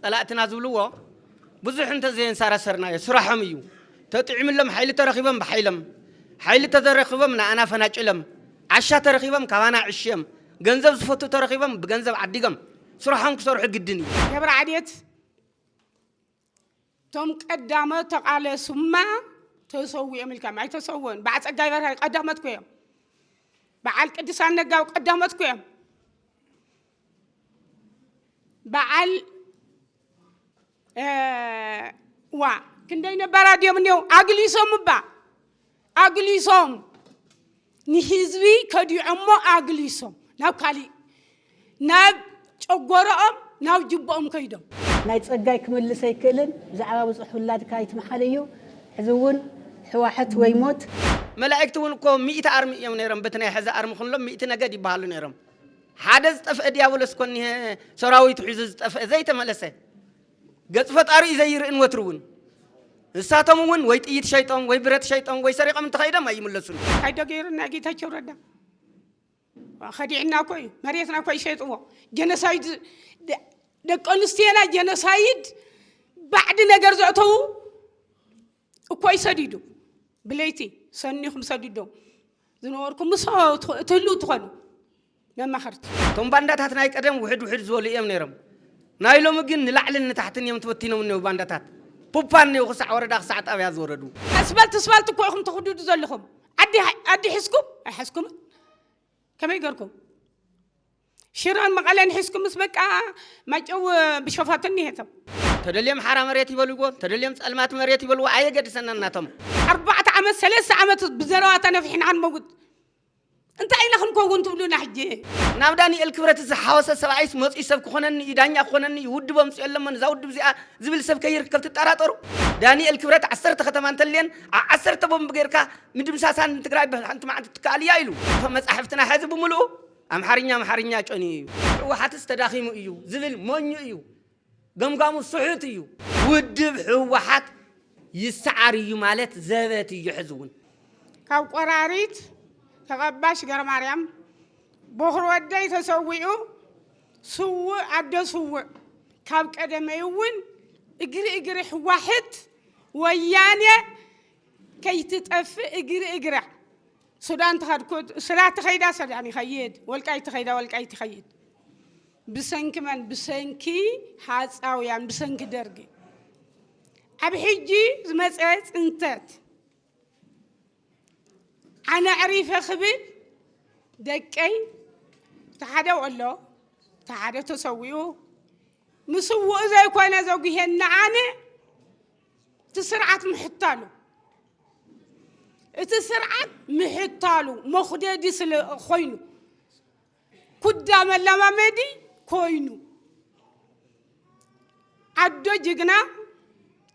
ፀላእትና ዝብልዎ ብዙሕ እንተዘየንሳራሰርናዮ ስራሖም እዩ። ተጥዒምሎም ሓይሊ ተረኺቦም ብሓይሎም፣ ሓይሊ ተዘረኺቦም ንኣና ፈናጭሎም፣ ዓሻ ተረኺቦም ካባና ዕሽዮም፣ ገንዘብ ዝፈቱ ተረኺቦም ብገንዘብ ዓዲጎም ስራሖም ክሰርሑ ግድን እዩ። ገብረዓዴት እቶም ቀዳሞት ተቓለሱማ ተሰዊኦም ኢልካም ኣይተሰወን በዓል ጸጋይ በርሃ ቀዳሞት ኮ እዮም በዓል ቅዱሳን ነጋው ቀዳሞት ኮ እዮም በዓል ዋ ክንደይ ነባራት እዮም እኒው ኣግሊሶም እባ ኣግሊሶም ንህዝቢ ከዲዖሞ ኣግሊሶም ናብ ካሊእ ናብ ጨጎረኦም ናብ ጅቦኦም ከይዶም። ናይ ጸጋይ ክምልስ ኣይክእልን ብዛዕባ ብጹሕ ውላድካ ኣይትምሓል እዩ ሕዚ ውን ሕዋሕት ወይ ሞት። መላኢክት ውን እኮ ሚእቲ ኣርሚ እዮም ነይሮም በቲ ናይ ሐዚ ኣርሚ ኩሎም ሚእቲ ነገድ ይባሃሉ ነይሮም ሓደ ዝጠፍኤ ድያብሎስ እኮ እኒሀ ሰራዊቱ ሒዙ ዝጠፍኤ ዘይተመለሰ ገጽ ፈጣሪኡ ዘይርእን ወትሩ ውን ንሳቶም ውን ወይ ጥይት ሸይጦም ወይ ብረት ሸይጦም ወይ ሰሪቆም እንተኸይዶም ኣይምለሱን። እንታይ ዶ ገይሩ ናይ ጌታቸው ረዳ ከዲዕና እኮ እዩ መሬትና እኮ ይሸይጥዎ ጀኖሳይድ ደቂ ኣንስትዮና ጀኖሳይድ ባዕዲ ነገር ዘእተዉ እኮይ ሰዲዱ ብለይቲ ሰኒኹም ሰዲዶ ዝነበርኩም ምስ እትህሉ ትኾኑ መማኸርቲ እቶም ባንዳታት ናይ ቀደም ውሕድ ውሕድ ዝበሉ እዮም ነይሮም ናይ ሎሚ ግን ንላዕልን ንታሕትን እዮም ተበቲኖም እኔው ባንዳታት ፑፓ እኔው ክሳዕ ወረዳ ክሳዕ ጣብያ ዝወረዱ ኣስፋልቲ ስፋልቲ እኮ ኢኹም ትኽድዱ ዘለኹም ዓዲ ዓዲ ሒዝኩም ኣይሓዝኩምን ከመይ ገርኩም ሽረን መቐለን ሒዝኩምስ በቃ ማይጨው ብሸፋቱ እኒሄቶ። ተደልዮም ሓራ መሬት ይበልዎ ተደልዮም ፀልማት መሬት ይበልዎ ኣየገድሰናን ናቶም። ኣርባዕተ ዓመት ሰለስተ ዓመት ብዘረባ ተነፊሕና ክንመውት እንታይ ኢና ክንከውን ትብሉና ሕጂ? ናብ ዳኒኤል ክብረት ዝሓወሰ ሰብኣይስ መፅዩ ሰብ ክኾነኒ እዩ ዳኛ ክኾነኒ እዩ ውድብ ኣምፅኦ ኣለሞ ንዛ ውድብ እዚኣ ዝብል ሰብ ከይርከብ ትጠራጠሩ ዳኒኤል ክብረት ዓሰርተ ከተማ እንተልየን ኣብ ዓሰርተ ቦምብ ገይርካ ምድምሳሳን ንትግራይ ብሓንቲ መዓልቲ ትከኣል እያ ኢሉ እቶም መፃሕፍትና ሐዚ ብምልኡ ኣምሓርኛ ኣምሓርኛ ጨንዩ እዩ። ሕወሓትስ ተዳኺሙ እዩ ዝብል ሞኝ እዩ። ገምጋሙ ስሑት እዩ። ውድብ ህወሓት ይሰዓር እዩ ማለት ዘበት እዩ ሕዚ እውን። ካብ ቆራሪት ተቐባሽ ገረማርያም ቦኽሪ ወደይ ተሰዊኡ ስውእ ኣደ ስውእ ካብ ቀደመይ እውን እግሪ እግሪ ሕዋሕት ወያኔ ከይትጠፍእ እግሪ እግራ ሱዳን ተኸድኩ ስላ ተኸይዳ ሰዳን ይኸይድ ወልቃይት ተኸይዳ ወልቃይት ይኸይድ ብሰንኪ መን ብሰንኪ ሃፃውያን ብሰንኪ ደርጊ ኣብ ሕጂ ዝመፀ ፅንተት ኣነ ዕሪፈ ክብል ደቀይ ተሓደ ወሎ ተሓደ ተሰዊኡ ምስውኡ ዘይኮነ ዘጉሄና ኣነ እቲ ስርዓት ምሕታሉ እቲ ስርዓት ምሕታሉ መኹደዲ ስለ ኮይኑ ኩዳ መለማመዲ ኮይኑ ዓዶ ጅግና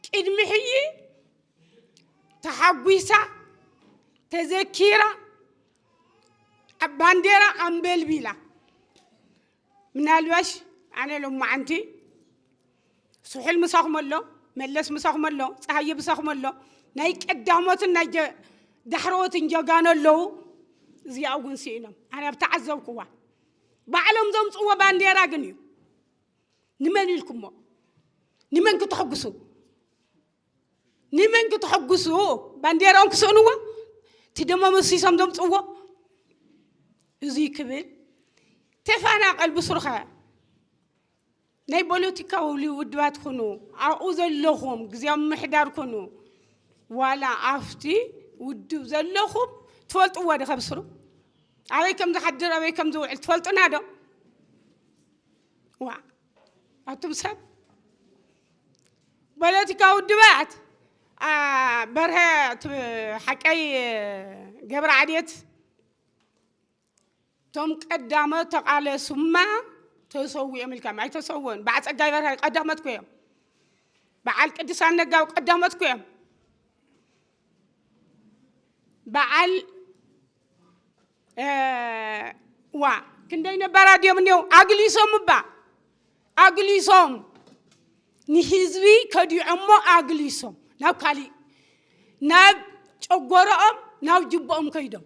ቅድሚ ሕጂ ተሓጒሳ ተዘኪራ ባንዴራ ኣንበልቢላ ምናልባሽ ኣነ ሎማዓንቲ ስሑል ምሳኹም ኣሎ፣ መለስ ምሳኹም ኣሎ፣ ፀሃየ ምሳኹም ኣሎ፣ ናይ ቀዳሞትን ናይ ዳሕረዎትን ጀጋኑ ኣለዉ። እዚኣ እውን ስኢኖም ኣነ ኣብ ተዓዘብኩዋ ባዕሎም ዘምፅዎ ባንዴራ ግን እዩ ንመን ኢልኩሞ ንመን ክትሕጉሱ ንመን ክተሐጉሱ ባንዴራኦም ክስእንዎ እቲ ደሞ መሲሶም ዘምፅዎ እዙይ ክብል ተፈናቐል ብስሩኸ ናይ ፖለቲካዊ ውድባት ኩኑ ኣብኡ ዘለኹም ግዜያዊ ምሕዳር ኩኑ ዋላ ኣብቲ ውድብ ዘለኹም ትፈልጥዎ ዶ ከብስሩ ኣበይ ከም ዝሓድር ኣበይ ከም ዝውዕል ትፈልጡና ዶ ዋ ኣቱም ሰብ ፖለቲካ ውድባት በርሀ ሓቀይ ገብረ ዓድት እቶም ቀዳሞት ተቓለሱማ ተሰው እዮም ኢልካም ኣይተሰወን በዓል ፀጋይ በርሀ ቀዳሞት ኮ እዮም በዓል ቅዱሳን ነጋው ቀዳሞት ኮ እዮም በዓል ዋ ክንደይ ነባራ ድዮም እኒው ኣግሊሶም እባ ኣግሊሶም ንህዝቢ ከዲዖሞ ኣግሊሶም ናብ ካሊእ ናብ ጨጎረኦም ናብ ጅቦኦም ከይዶም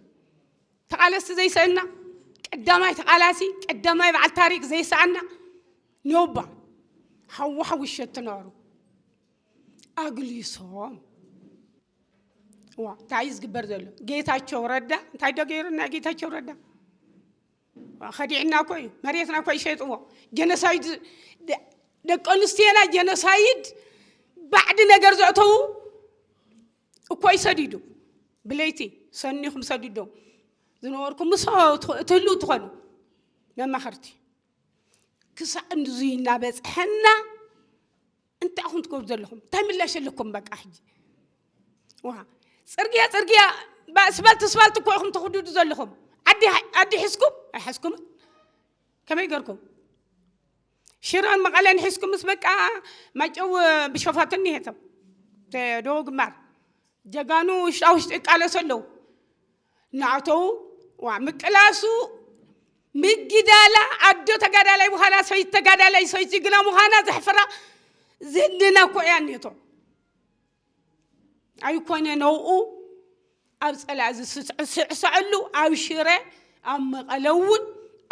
ተቓለስቲ ዘይሰእና ቀዳማይ ተቓላሲ ቀዳማይ በዓል ታሪክ ዘይሰኣና ነውባ ሓዋሓ ውሸት ትነሩ ኣግሊሶም ዋ እንታይ እዩ ዝግበር ዘሎ ጌታቸው ረዳ እንታይ ዶ ገይሩ ናይ ጌታቸው ረዳ ዋ፣ ከዲዕና እኮ እዩ መሬትና እኮ ይሸጥዎ ጀኖሳይድ ደ- ደቂ ኣንስትዮና ጀኖሳይድ ባዕዲ ነገር ዘእተዉ እኮ እዩ ሰዲዱ ብለይቲ ሰኒኹም ሰዲዶም ዝነበርኩም ምስ እትህሉ ትኾኑ መማኸርቲ ክሳዕ እንዙይ እናበፅሐና እንታይ ኢኹም ትገብሩ ዘለኹም? እንታይ ምላሽ ኣለኩም? በቃ ሕጂ ዋ ፅርግያ ፅርግያ ስፋልቲ ስፋልቲ እኮ ኢኹም ትኽድዱ ዘለኹም። ዓዲ ዓዲ ሒዝኩም ኣይሓዝኩም ከመይ ገርኩም ሽረን መቐለን ሒዝኩምስ በቃ ማጨው ብሸፋቱ እኒሄቶም ዶ ግንባር ጀጋኑ ውሽጣ ውሽጢ ይቃለሱ ኣለዉ። ንኣተዉ ዋ ምቅላሱ ምግዳላ ኣዶ ተጋዳላይ ምዃና ሰይቲ ተጋዳላይ ሰይቲ ግና ምዃና ዘሕፍራ ዝህድና እኮ እያ እኔቶ ኣይኮነ ነውኡ ኣብ ፀላእ ዝስዕስዐሉ ኣብ ሽረ ኣብ መቐለ እውን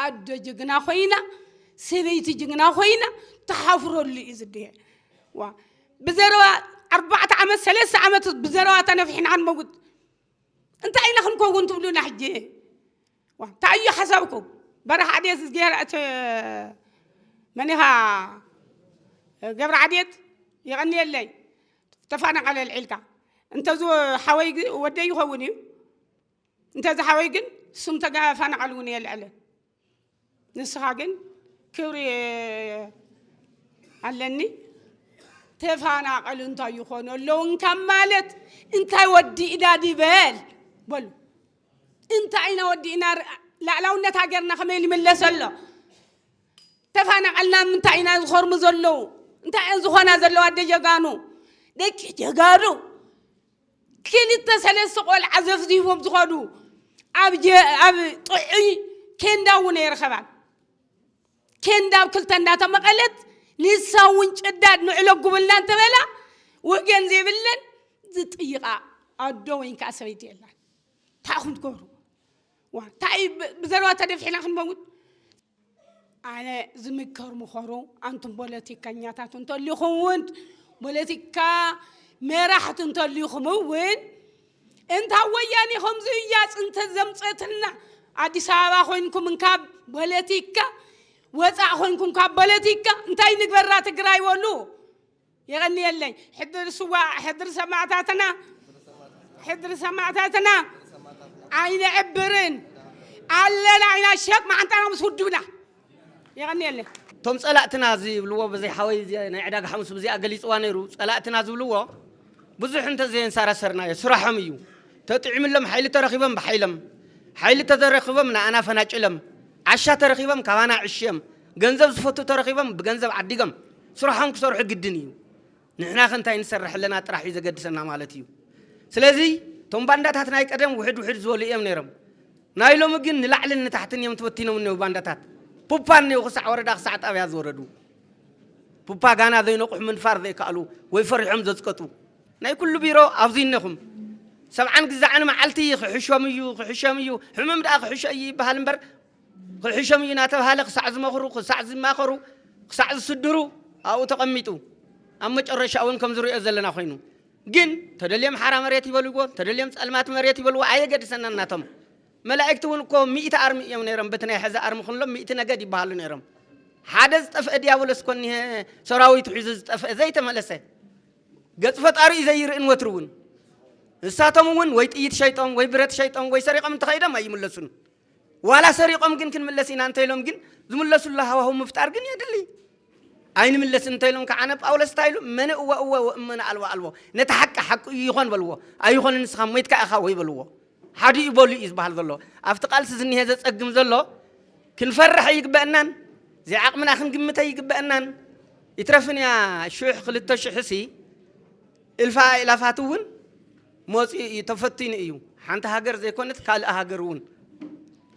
ኣዶ ጅግና ኮይና ሰበይቲ ጅግና ኮይና ተሓፍረሉ እዩ ዝድሄ ዋ ብዘረባ ኣርባዕተ ዓመት ሰለስተ ዓመት ብዘረባ ተነፊሕና ክንመውት እንታይ ኢና ክንከውን ትብሉና ሕጂ ዋ፣ እንታይ እዩ ሓሳብኩም በረኻ ዓዴት ዝገራ እቲ መን ኢኻ ገብረ ዓዴት የቐንየለይ ተፋናቐለ ልዒልካ እንተዚ ሓወይ ግ- ወደይ ይኸውን እዩ እንተዚ ሓወይ ግን ስም ተፈናቐል እውን የልዕልን ንስኻ ግን ክብሪ ኣለኒ ተፋናቀሉ እንታይ ይኾኑ ኣለዉ እንካብ ማለት እንታይ ወዲእና ድበል በሉ እንታይ ኢና ወዲእና ላዕላውነት ሃገርና ከመይ ይምለስ ኣሎ ተፋናቀልና ምንታይ ኢና ዝኸርሙ ዘለዉ እንታይ እየን ዝኾና ዘለዋ ኣደ ጀጋኑ ደቂ ጀጋኑ ክልተ ሰለስተ ቆልዓ ዘፍዚፎም ዝኸዱ ኣብ ጥዑይ ኬንዳ እውን ኣይረኸባን ኬንዳ ኣብ ክልተ እንዳተመቐለት ንሳ እውን ጭዳድ ንዕለጉብልና እንተበላ ወገን ዘይብለን ዝጥይቓ ኣዶ ወይ ከዓ ሰበይቲ የላን እንታይ ኹም ትገብሩ እንታይ ብዘረባ ተደፊሕና ክንመውት ኣነ ዝምከር ምኸሩ ኣንቱም ፖለቲከኛታት እንተልኹም እውን ፖለቲካ መራሕቲ እንተልኹም እውን እንታ ወያኔ ከምዚ እያ ፅንተ ዘምፀትና ኣዲስ ኣበባ ኮይንኩም ካብ ፖለቲካ ወፃእ ኮይንኩም ካብ ፖለቲካ እንታይ ንግበራ ትግራይ በሉ የቐንየለይ ሕድሪ ስዋእ ሕድሪ ሰማእታትና ሕድሪ ሰማእታትና ኣይነዕብርን ኣለና ኢና ሸጥ መዓንጣና ምስ ውድብና የቐንየለይ እቶም ጸላእትና ዝብልዎ በዘይ ሓወይ ናይ ዕዳጋ ሓሙስ ብዚኣ ገሊጽዋ ነይሩ ጸላእትና ዝብልዎ ብዙሕ እንተዘየንሳራሰርናዮ ስራሖም እዩ ተጥዒምሎም ሓይሊ ተረኺቦም ብሓይሎም ሓይሊ ተዘረኺቦም ንኣና ፈናጭሎም ዓሻ ተረኺቦም ካባና ዕሽዮም ገንዘብ ዝፈቱ ተረኺቦም ብገንዘብ ዓዲጎም ስርሖም ክሰርሑ ግድን እዩ። ንሕና ከ እንታይ ንሰርሕ ኣለና ጥራሕ እዩ ዘገድሰና ማለት እዩ። ስለዚ እቶም ባንዳታት ናይ ቀደም ውሕድ ውሕድ ዝበሉ እዮም ነይሮም። ናይ ሎሚ ግን ንላዕልን ንታሕትን እዮም ተበቲኖም እኔው ባንዳታት። ፑፓ እኔው ክሳዕ ወረዳ ክሳዕ ጣብያ ዝወረዱ ፑፓ ጋና ዘይነቑሑ ምንፋር ዘይከኣሉ ወይ ፈሪሖም ዘፅቀጡ ናይ ኩሉ ቢሮ ኣብዚ እነኹም ሰብዓን ግዛዕን መዓልቲ ክሕሾም እዩ ክሕሾም እዩ ሕምም ደኣ ክሕሾ እዩ ይበሃል እምበር ክሕሾም እዩ እናተብሃለ ክሳዕ ዝመኽሩ፣ ክሳዕ ዝማኸሩ፣ ክሳዕ ዝስድሩ ኣብኡ ተቐሚጡ ኣብ መጨረሻ እውን ከም ዝሪኦ ዘለና ኮይኑ ግን ተደልዮም ሓራ መሬት ይበልዎ ተደልዮም ጸልማት መሬት ይበልዎ ኣየገድሰናን ናቶም መላእክቲ እውን እኮ ሚእቲ ኣርሚ እዮም ነይሮም በቲ ናይ ሕዚ ኣርሚ ክንሎም ሚእቲ ነገድ ይበሃሉ ነይሮም ሓደ ዝጠፍአ ዲያብሎስ ኮኒ ሰራዊቱ ሒዙ ዝጠፍአ ዘይተመለሰ ገጽ ፈጣሪ እዩ ዘይርእን ወትሩ እውን ንሳቶም እውን ወይ ጥይት ሸይጦም ወይ ብረት ሸይጦም ወይ ሰሪቖም እንተኸይዶም ኣይምለሱን ዋላ ሰሪቖም ግን ክንምለስ ኢና እንተኢሎም ግን ዝምለሱሉ ሃዋህው ምፍጣር ግን የድሊ። ኣይንምለስን እንተኢሎም ከዓ ነ ጳውሎስ እንታይ ኢሉ እመነ እወ እወ ወእመነ ኣልወ ኣልቦ ነቲ ሓቂ ሓቂ እዩ ይኾን በልዎ ኣይኾንን ንስኻ ሞይትካ ኢኻ ወይ በልዎ ሓዲ እዩ በሉ እዩ ዝበሃል ዘሎ ኣብቲ ቃልሲ ዝኒሀ ዘፀግም ዘሎ ክንፈርሕ ኣይግበአናን ዘይዓቕምና ክንግምት ኣይግበአናን ይትረፍን እያ ሽሕ ክልተ ሽሕሲ እልፋ ኢላፋት እውን መፂኡ እዩ ተፈቲኑ እዩ ሓንቲ ሃገር ዘይኮነት ካልእ ሃገር እውን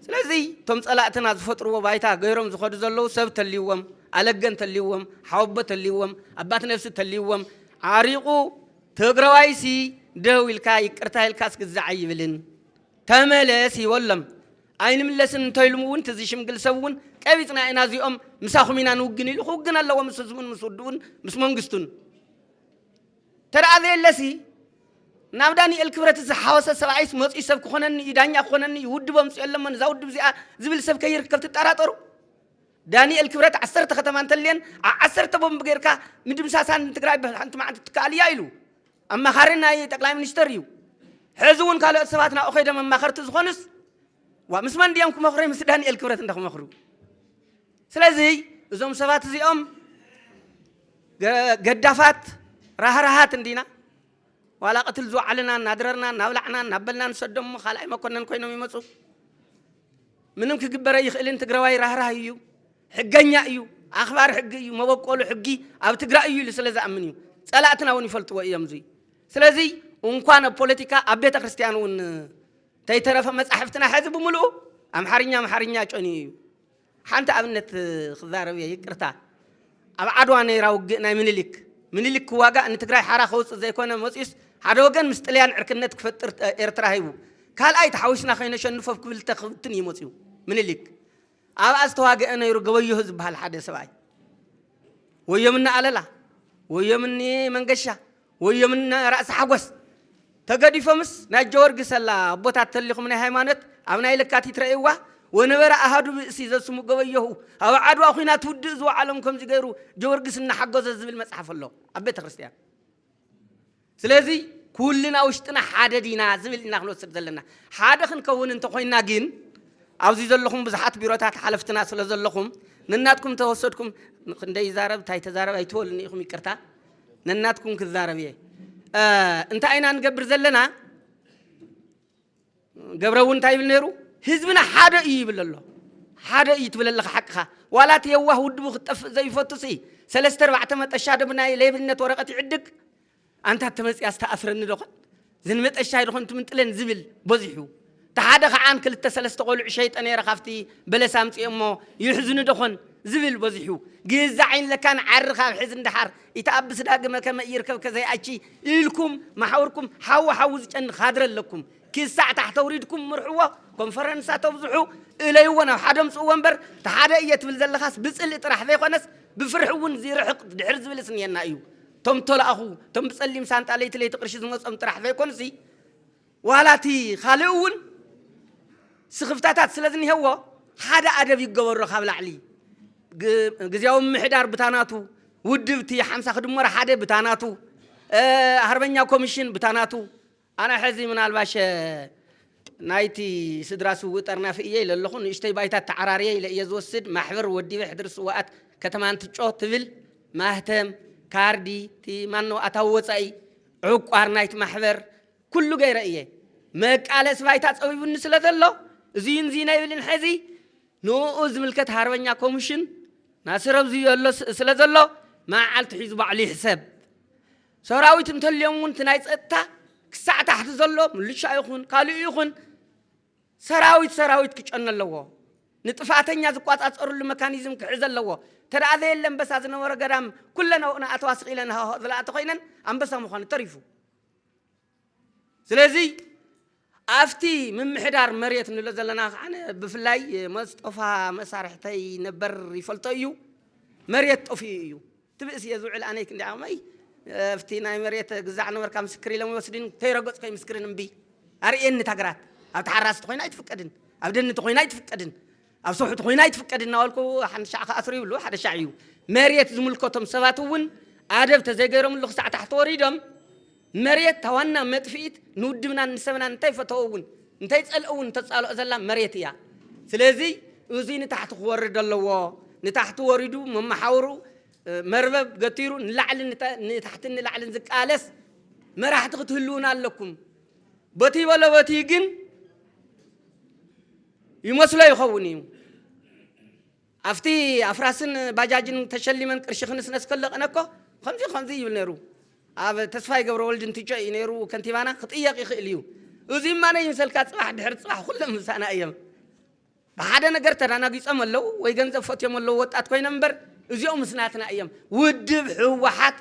ስለዚ እቶም ፀላእትና ዝፈጥርዎ ባይታ ገይሮም ዝኸዱ ዘለዉ ሰብ ተልይዎም ኣለገ እንተልይዎም ሓወቦ ተልይዎም ኣባት ነብሲ ተልይዎም ዓሪቑ ትግራዋይሲ ደው ኢልካ ይቅርታ ኢልካ ስግዛዕ ኣይብልን ተመለስ ይበሎም ኣይንምለስን እንተኢሉም እውን እቲ ዝሽምግል ሰብ እውን ቀቢፅና ኢና እዚኦም ምሳኹም ኢና ንውግን ኢሉ ክውግን ኣለዎ ምስ ህዝቡን ምስ ውድኡን ምስ መንግስቱን ተርኣ ዘየለሲ ናብ ዳኒኤል ክብረት ዝሓወሰ ሰብኣይስ መፅኡ ሰብ ክኾነኒ እዩ ዳኛ ክኾነኒ እዩ ውድብ ኣምፅኦ ኣለመን እዛ ውድብ እዚኣ ዝብል ሰብ ከይርከብ ትጠራጠሩ ዳኒኤል ክብረት ዓሰርተ ከተማ እንተልየን ዓ- ዓሰርተ ቦምብ ጌርካ ምድምሳሳን ንትግራይ ብሓንቲ መዓልቲ ትከኣል እያ ኢሉ ኣማኻሪ ናይ ጠቅላይ ሚኒስተር እዩ ሕዚ እውን ካልኦት ሰባት ናብኡ ከይዶም ኣማኸርቲ ዝኾኑስ ዋ ምስ መን ድዮም ክመኽሩ ምስ ዳኒኤል ክብረት እንዳ ክመኽሩ ስለዚ እዞም ሰባት እዚኦም ገዳፋት ራህራሃት እንዲና ዋላ ቅትል ዝወዓልና እናድረርና እናብላዕና እናበልና ንሰዶም እሞ ካልኣይ መኮነን ኮይኖም ይመፁ ምንም ክግበረ ይኽእልን ትግራዋይ ራህራህ እዩ ሕገኛ እዩ ኣኽባር ሕጊ እዩ መበቆሉ ሕጊ ኣብ ትግራይ እዩ ኢሉ ስለ ዝኣምን እዩ ፀላእትና እውን ይፈልጥዎ እዮም እዙይ ስለዚ እንኳን ኣብ ፖለቲካ ኣብ ቤተ ክርስቲያን እውን ተይተረፈ መፃሕፍትና ሕዚ ብምልኡ ኣምሓርኛ ኣምሓርኛ ጨንዩ እዩ ሓንቲ ኣብነት ክዛረብ እየ ይቅርታ ኣብ ዓድዋ ነይራ ውግእ ናይ ምኒልክ ምኒልክ ክዋጋእ ንትግራይ ሓራ ከውፅእ ዘይኮነ መፅኡስ ሓደ ወገን ምስ ጥልያን ዕርክነት ክፈጥር ኤርትራ ሂቡ ካልኣይ ተሓዊስና ከይነሸንፎ ብ ክብልተ ክብትን እዩ መፅኡ ምኒልክ ኣብኣ ዝተዋገአ ነይሩ ገበዮህ ዝበሃል ሓደ ሰብኣይ ወዮምኒ ኣለላ ወዮምኒ መንገሻ ወዮም እነ ራእሲ ሓጎስ ተገዲፎምስ ናይ ጀወርጊ ሰላ ኣቦታት ተሊኹም ናይ ሃይማኖት ኣብ ናይ ለካቲት ረእይዋ ወነበረ ኣሃዱ ብእሲ ዘስሙ ገበዮሁ ኣብ ዓድዋ ኩናት ውድእ ዝወዓሎም ከምዚ ገይሩ ጀወርጊስ እናሓጎዘ ዝብል መጽሓፍ ኣሎ ኣብ ቤተ ክርስቲያን ስለዚ ኩልና ውሽጥና ሓደ ዲና ዝብል ኢና ክንወስድ ዘለና ሓደ ክንከውን እንተኮይና ግን ኣብዚ ዘለኹም ብዙሓት ቢሮታት ሓለፍትና ስለ ዘለኹም ንናትኩም ተወሰድኩም ክንደይ ይዛረብ እንታይ ተዛረብ ኣይትበሉኒ ኢኹም ይቅርታ ነናትኩም ክዛረብ እየ እንታይ ኢና ንገብር ዘለና ገብረ እውን እንታይ ይብል ነይሩ ህዝብና ሓደ እዩ ይብል ኣሎ ሓደ እዩ ትብል ኣለኻ ሓቅኻ ዋላ እቲ የዋህ ውድቡ ክትጠፍእ ዘይፈቱ ሲ ሰለስተ ኣርባዕተ መጠሻ ዶ ብናይ ሌብነት ወረቐት ይዕድግ ኣንታ ተመፅያ ዝተኣስረኒ ዶኾን ዝንመጠሻይ ድኾን ትምንጥለን ዝብል በዚሑ ተሓደ ከዓን ክልተ ሰለስተ ቆልዑ ሸይጠ ነይረ ካብቲ በለስ ኣምፅኦ እሞ ይሕዝኑ ደኾን ዝብል በዚሑ ግዛዕ ይንለካን ዓሪ ካብ ሕዝ እንዳሓር ይተኣብስ ዳግመ ከመ ይርከብ ከዘይኣቺ ኢልኩም ማሓውርኩም ሓዊ ሓዊ ዝጨን ካድረ ኣለኩም ክሳዕ ታሕተ ውሪድኩም ምርሕዎ ኮንፈረንሳ ተብዝሑ እለይዎ ናብ ሓደ ምፅእዎ እምበር ተሓደ እየ ትብል ዘለኻስ ብፅልኢ ጥራሕ ዘይኮነስ ብፍርሒ እውን ዝርሕቕ ድሕር ዝብልስ እኒኤና እዩ እቶም እተላእኹ፣ እቶም ብጸሊም ሳንጣ ለይቲ ለይቲ ቅርሺ ዝመጾም ጥራሕ ዘይኮኑሲ፣ ዋላ እቲ ኻልእ እውን ስኽፍታታት ስለ ዝኒሀዎ፣ ሓደ ኣደብ ይገበሮ ካብ ላዕሊ፣ ግዝያዊ ምምሕዳር ብታ ናቱ፣ ውድብ እቲ ሓምሳ ክድመሮ ሓደ ብታ ናቱ፣ ሃርበኛ ኮሚሽን ብታ ናቱ፣ ኣነ ሕዚ ምናልባሸ ናይቲ ስድራ ስውእ ጠርናፊ ኢየ ኢለ ኣለኹ። ንእሽቶይ ባይታ ተዓራርየ ኢለ ኢየ ዝወስድ። ማሕበር ወዲበ ሕድሪ ስውኣት ከተማ እንትጮ ትብል ማህተም፣ ካርዲ፣ እቲ ማነው ኣታዊ ወጻኢ፣ ዕቋር ናይቲ ማሕበር ኩሉ ገይረ ኢየ። መቃለሲ ባይታ ጸቢቡኒ ስለ ዘሎ እዚን እዚን ኣይብልን ሕዚ ንኡ ዝምልከት ሃርበኛ ኮምሽን ናስረብዙ ኣሎ ስለ ዘሎ መዓዓልቲ ሒዙ ባዕሉ ይሕሰብ። ሰራዊት እንተልዮም እውን እቲ ናይ ፀጥታ ክሳዕ ታሕቲ ዘሎ ምልሻ ይኹን ካልእ ይኹን ሰራዊት ሰራዊት ክጨነ ኣለዎ። ንጥፍኣተኛ ዝቋፃፀርሉ መካኒዝም ክሕዝ ኣለዎ እንተ ዘየለ ኣንበሳ ዝነበሮ ገዳም ኩለን ኣብኡ ንኣተዋ ስቕ ኢለን ሃሆ ዝላ እንተኾይነን ኣንበሳ ምዃኑ ተሪፉ ስለዚ ኣብቲ ምምሕዳር መሬት ንብሎ ዘለና ከዓነ ብፍላይ መስጦፋ መሳርሕተይ ነበር ይፈልጦ እዩ መሬት ጠፊኡ እዩ ትብእስ እየ ዝውዕል ኣነይ ክንዲ ዓቕመይ ኣብቲ ናይ መሬት ግዛዕ ነበርካ ምስክር ኢሎም ይወስድን ከይረገፅኮ ይምስክርን እምቢ ኣርእየኒ ታግራት ኣብ ተሓራስቲ ኮይና ኣይትፍቀድን ኣብ ደኒ ተኮይና ኣይትፍቀድን ኣብ ሰውሕት ኮይነ ኣይትፍቀድ እናበልኩ ሓንቲ ሻዕ ክኣስር ይብሉ ሓደ ሻዕ እዩ መሬት ዝምልከቶም ሰባት እውን ኣደብ ተዘይገይሮምሉ ክሳዕ ታሕቲ ወሪዶም መሬት ታዋና መጥፍኢት ንውድብናን ንሰብናን እንታይ ፈተው እውን እንታይ ፀልኦ እውን ተፃልኦ ዘላ መሬት እያ ስለዚ እዙይ ንታሕቲ ክወርድ ኣለዎ ንታሕቲ ወሪዱ መመሓውሩ መርበብ ገቲሩ ንላዕልን ንታሕትን ንላዕልን ዝቃለስ መራሕቲ ክትህልውና ኣለኩም በቲ በለ በቲ ግን ይመስሎ ይኸውን እዩ ኣብቲ ኣፍራስን ባጃጅን ተሸሊመን ቅርሺ ክንስነስ ከለቕነ እኮ ከምዚ ከምዚ ይብል ነይሩ ኣብ ተስፋይ ገብረ ወልድ እንትጮ እዩ ነይሩ ከንቲባና ክጥየቕ ይኽእል እዩ እዙይ ማነ ይምሰልካ ፅባሕ ድሕሪ ፅባሕ ኩሎም ምሳና እዮም ብሓደ ነገር ተዳናጊጾም ኣለው ወይ ገንዘብ ፈትዮም ኣለው ወጣት ኮይኖም እምበር እዚኦምስ ናትና እዮም ውድብ ህወሓት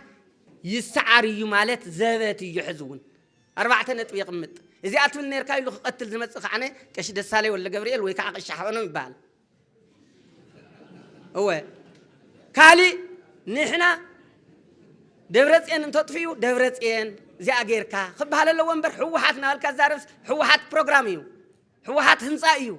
ይሰዓር እዩ ማለት ዘበት እዩ ሕዚ እውን ኣርባዕተ ነጥቢ የቕምጥ እዚኣ ትብል ነርካ ኢሉ ክቐትል ዝመጽእ ከዓነ ቀሺ ደሳለይ ወልደ ገብርኤል ወይ ከዓ ቀሺ ሓበኖም ይበሃል እወ ካሊእ ንሕና ደብረፅየን እንተጥፍኡ ደብረፅየን እዚኣ ጌርካ ክበሃል ኣለዎ እምበር ህወሓት ናበልካ ዛረብስ ህወሓት ፕሮግራም እዩ ህወሓት ህንፃ እዩ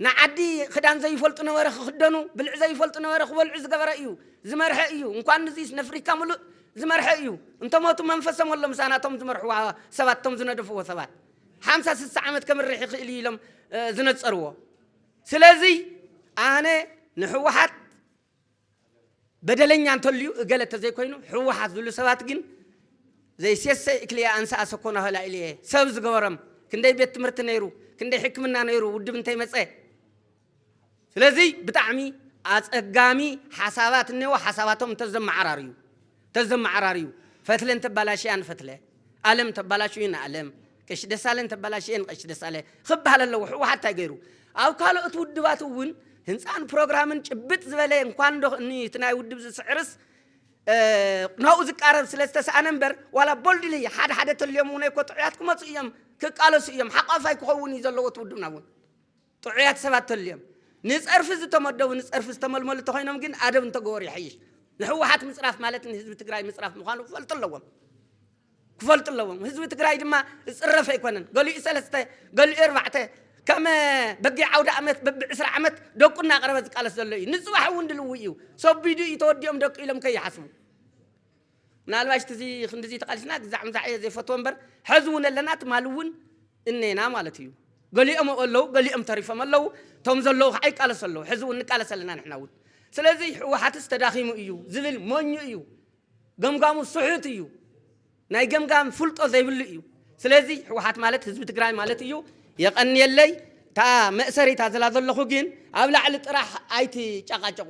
ንዓዲ ክዳን ዘይፈልጡ ነበረ ክክደኑ ብልዕ ዘይፈልጡ ነበረ ክበልዑ ዝገበረ እዩ ዝመርሐ እዩ እንኳን ንዚስ ነፍሪካ ምሉእ ዝመርሐ እዩ እንተሞቱ መንፈሶም ኣሎ ምሳና እቶም ዝመርሕዋ ሰባት እቶም ዝነደፍዎ ሰባት ሓምሳ ስሳ ዓመት ከምርሕ ይኽእል እዩ ኢሎም ዝነፀርዎ ስለዚ ኣነ ንህወሓት በደለኛ እንተልዩ እገለ ተዘይኮይኑ ሕወሓት ዝብሉ ሰባት ግን ዘይሴሰይ እክልያ ኣንስኣ ሰኮና ሆላ ኢልየ ሰብ ዝገበሮም ክንደይ ቤት ትምህርቲ ነይሩ ክንደይ ሕክምና ነይሩ ውድብ እንተይመፀ ስለዚ ብጣዕሚ ኣፀጋሚ ሓሳባት እኒዎ ሓሳባቶም እንተዘመዓራርዩ ተዘመዓራርዩ ፈትለን ተባላሽያን ፈትለ ኣለም ተባላሽዩን ኣለም ቀሺ ደሳለን ተባላሽየን ቀሺ ደሳለ ክበሃል ኣለዎ ሕወሓት እንታይ ገይሩ ኣብ ካልኦት ውድባት እውን ህንፃን ፕሮግራምን ጭብጥ ዝበለ እንኳን ዶ እኒ እቲ ናይ ውድብ ዝስዕርስ ናብኡ ዝቃረብ ስለ ዝተሰኣነ እምበር ዋላ ቦልድሊ ሓደ ሓደ ተልዮም እውን እኮ ጥዑያት ክመፁ እዮም ክቃለሱ እዮም ሓቋፋይ ክኸውን እዩ ዘለዎ እቲ ውድብና እውን ጥዑያት ሰባት ተልዮም ንፀርፊ ዝተመደቡ ንፀርፊ ዝተመልመሉ ተኾይኖም ግን ኣደብ እንተገበሩ ይሐይሽ። ንሕወሓት ምፅራፍ ማለት ንህዝቢ ትግራይ ምፅራፍ ምዃኑ ክፈልጡ ኣለዎም። ክፈልጡ ኣለዎም። ህዝቢ ትግራይ ድማ ዝፅረፍ ኣይኮነን። ገሊኡ ሰለስተ ገሊኡ ኣርባዕተ ከም በጊዕ ዓውደ ኣመት በቢ ዕስራ ዓመት ደቁ እናቕረበ ዝቃለስ ዘሎ እዩ። ንፅባሕ እውን ድልው እዩ። ሰቢዱ እዩ ተወዲኦም ደቂ ኢሎም ከይሓስቡ ምናልባሽ ትዚ ክንድዚ ተቃሊስና ግዛዕ ምዛዕ እየ ዘይፈትዎ እምበር ሐዚ እውን ኣለና ትማሊ እውን እኔና ማለት እዩ ገሊኦም ኣብኡ ኣለው ገሊኦም ተሪፎም ኣለው እቶም ዘለው ከዓ ይቃለሱ ኣለው ሐዚ እውን ንቃለስ ኣለና ንሕና እውን ስለዚ ህወሓትስ ተዳኺሙ እዩ ዝብል ሞኙ እዩ ገምጋሙ ስሑት እዩ ናይ ገምጋም ፍልጦ ዘይብሉ እዩ ስለዚ ህወሓት ማለት ህዝቢ ትግራይ ማለት እዩ የቐንየለይ እታ መእሰሪታ ዝላ ዘለኹ ግን ኣብ ላዕሊ ጥራሕ ኣይትጨቃጨቑ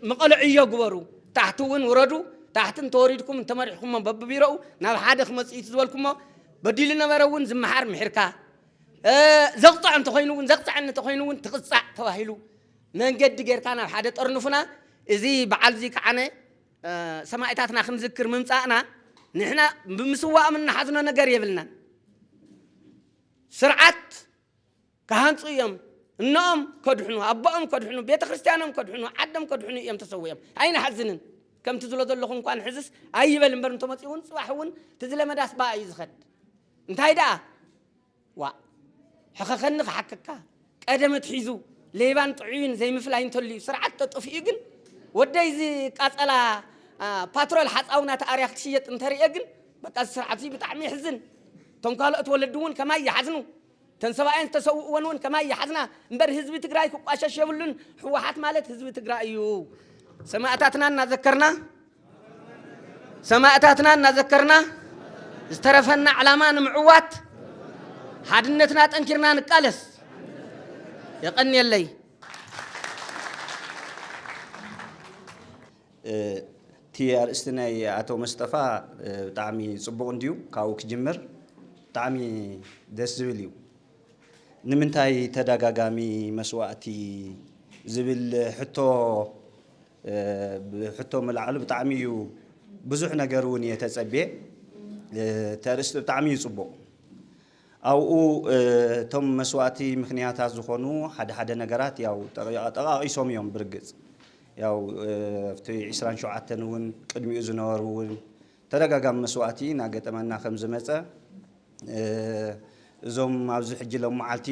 መቐለ ዕዮ ግበሩ፣ ታሕቲ እውን ውረዱ፣ ታሕቲ እንተወሪድኩም እንተመሪሕኩሞ በብቢሮኡ ናብ ሓደ ክመፅእ እዩ ዝበልኩሞ በዲሉ ነበረ እውን ዝመሓር ምሒርካ ዘቕፅዕ እንተኾይኑ እውን ዘቕፅዐኒ እንተኾይኑ እውን ትቕፃዕ ተባሂሉ መንገዲ ጌርካ ናብ ሓደ ጠርንፉና እዚ በዓል እዚ ከዓነ ሰማእታትና ክንዝክር ምምፃእና ንሕና ብምስዋእም እናሓዝኖ ነገር የብልናን ስርዓት ክሃንጹ እዮም እኖኦም ከድሕኑ ኣቦኦም ከድሕኑ ቤተ ክርስትያኖም ከድሕኑ ዓዶም ከድሕኑ እዮም ተሰዊኦም ኣይንሓዝንን ከምቲ ዝሎ ዘለኹ እንኳን ሕዝስ ኣይበል እምበር እንተመፅኡ እውን ፅባሕ እውን ትዝለመዳስ በኣ እዩ ዝኸድ እንታይ ደኣ ዋእ ሕኸኸኒ ክሓክካ ቀደመት ሒዙ ሌባን ጥዑይን ዘይምፍላይ እንተልዩ ስርዓት ተጠፍኡ ግን ወደይ ዝቃፀላ ፓትሮል ሓፃውና ተኣርያ ክትሽየጥ እንተርእየ ግን በቃ ስርዓት ብጣዕሚ ይሕዝን እቶም ካልኦት ወለዲ እውን ከማይ ይሓዝኑ እተን ሰባኤን ዝተሰውእወን እውን ከማይ ይሓዝና እምበር ህዝቢ ትግራይ ክቋሸሽ የብሉን ህወሓት ማለት ህዝቢ ትግራይ እዩ ሰማእታትና እናዘከርና ሰማእታትና እናዘከርና ዝተረፈና ዕላማ ንምዕዋት ሓድነትና ጠንኪርና ንቃለስ የቐንየለይ እቲ ኣርእስቲ ናይ ኣቶ መስጠፋ ብጣዕሚ ጽቡቕ እንድዩ ካብኡ ክጅምር ብጣዕሚ ደስ ዝብል እዩ። ንምንታይ ተደጋጋሚ መስዋእቲ ዝብል ሕቶ ብሕቶ ምልዓሉ ብጣዕሚ እዩ ብዙሕ ነገር እውን እየ ተጸብየ እቲ ኣርእስቲ ብጣዕሚ እዩ ጽቡቕ። ኣብኡ እቶም መስዋእቲ ምኽንያታት ዝኾኑ ሓደ ሓደ ነገራት ያው ጠቓቒሶም እዮም ብርግጽ ያው ኣብቲ ዕስራን ሸውዓተን እውን ቅድሚኡ ዝነበሩ እውን ተደጋጋሚ መስዋእቲ እናገጠመና ከም ዝመጸ እዞም ኣብዚ ሕጂ ሎም መዓልቲ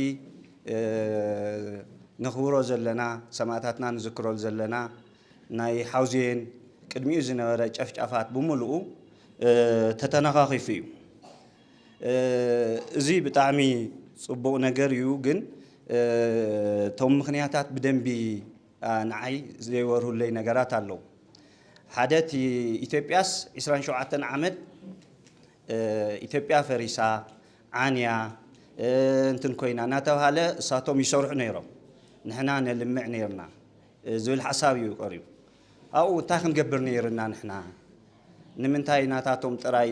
ነኽብሮ ዘለና ሰማእታትና ንዝክረሉ ዘለና ናይ ሓውዜን ቅድሚኡ ዝነበረ ጨፍጫፋት ብምልኡ ተተነኻኺፉ እዩ። እዚ ብጣዕሚ ጽቡቅ ነገር እዩ ግን እቶም ምክንያታት ብደንቢ ንዓይ ዘይበርሁለይ ነገራት ኣለው ሓደ እቲ ኢትዮጵያስ ዕስራን ሸውዓተን ዓመት ኢትዮጵያ ፈሪሳ ዓንያ እንትን ኮይና እናተብሃለ እሳቶም ይሰርሑ ነይሮም ንሕና ነልምዕ ነይርና ዝብል ሓሳብ እዩ ቀሪቡ ኣብኡ እንታይ ክንገብር ነይርና ንሕና? ንምንታይ ናታቶም ጥራይ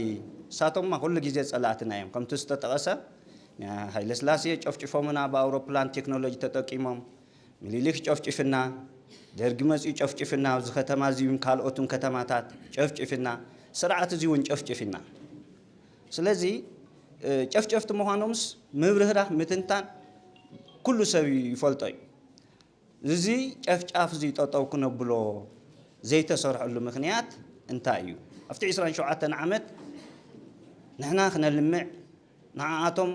ንሳቶምማ ኩሉ ግዜ ጸላእትና እዮም ከምቲ ዝተጠቐሰ ንሃይለስላሴ ጨፍጪፎምና ብኣውሮፕላን ቴክኖሎጂ ተጠቂሞም ምኒሊክ ጨፍጪፍና ደርጊ መጺኡ ጨፍጪፍና ኣብዚ ከተማ እዚውን ካልኦትን ከተማታት ጨፍጪፍና ስርዓት እዚውን ጨፍጪፍና ስለዚ ጨፍጨፍቲ ምዃኖምስ ምብርህራህ ምትንታን ኩሉ ሰብ ይፈልጦ እዩ እዚ ጨፍጫፍ'ዚ ጠጠው ክነብሎ ዘይተሰርሐሉ ምኽንያት እንታይ እዩ? ኣብቲ ዕስራን ሸውዓተን ዓመት ንሕና ክነልምዕ፣ ንዓኣቶም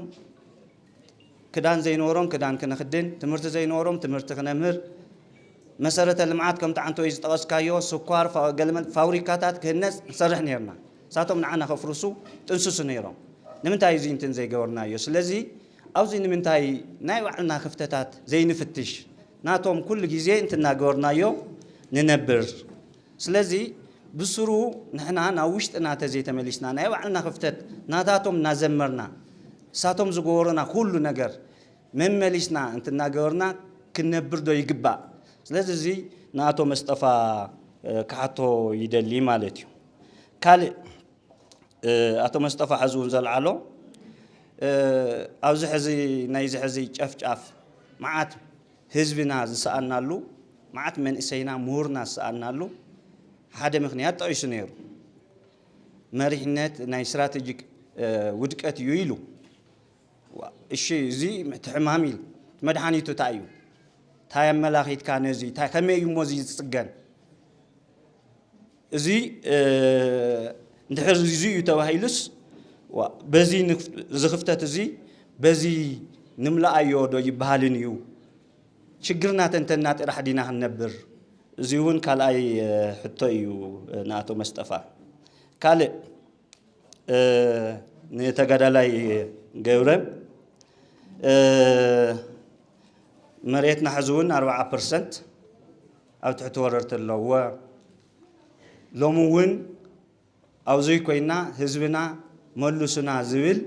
ክዳን ዘይነበሮም ክዳን ክነኽድን፣ ትምህርቲ ዘይነበሮም ትምህርቲ ክነምህር፣ መሰረተ ልምዓት ከምቲ ዓንተወይ ዝጠቐስካዮ ስኳር ገለመለ ፋብሪካታት ክህነፅ ንሰርሕ ነይርና። ንሳቶም ንዓና ከፍርሱ ይጥንስሱ ነይሮም። ንምንታይ እዩ እዚንትን ዘይገበርናዮ? ስለዚ ኣብዚ ንምንታይ ናይ ባዕልና ክፍተታት ዘይንፍትሽ ናቶም ኩሉ ግዜ እንትናገበርናዮ ንነብር ስለዚ ብሱሩ ንሕና ናብ ውሽጥና ተዘይተመሊስና ናይ ባዕልና ክፍተት ናታቶም እናዘመርና እሳቶም ዝገበሩና ኩሉ ነገር መመሊስና እንትናገበርና ክንነብርዶ ይግባእ ስለዚ እዚ ንኣቶ መስጠፋ ክሓቶ ይደሊ ማለት እዩ ካልእ ኣቶ መስጠፋ ሐዚ እውን ዘልዓሎ ኣብዚ ሕዚ ናይዚ ሕዚ ጨፍጫፍ መዓት ህዝብና ዝሰኣናሉ መዓት መንእሰይና ምሁርና ዝሰኣናሉ ሓደ ምክንያት ጠቒሱ ነይሩ መሪሕነት ናይ ስትራቴጂክ ውድቀት እዩ ኢሉ እሺ እዚ እቲ ሕማም ኢል መድሓኒቱ እንታይ እዩ እንታይ ኣመላኺትካ ነዚ እንታይ ከመይ እዩ እሞ እዚ ዝፅገን እዚ እንድሕር እዚ እዩ ተባሂሉስ ዋእ በዚ እዚ ክፍተት እዚ በዚ ንምልኣዮ ዶ ይበሃልን እዩ? ችግርና ተንተንና ጥራሕ ዲና ክንነብር? እዚ እውን ካልኣይ ሕቶ እዩ ንኣቶ መስጠፋ። ካልእ ንተጋዳላይ ገብረ መሬትና ሕዚ እውን ኣርብዓ ፐርሰንት ኣብ ትሕቲ ወረርቲ ኣለዎ። ሎሚ እውን ኣብዙይ ኮይና ህዝብና መሉሱና ዝብል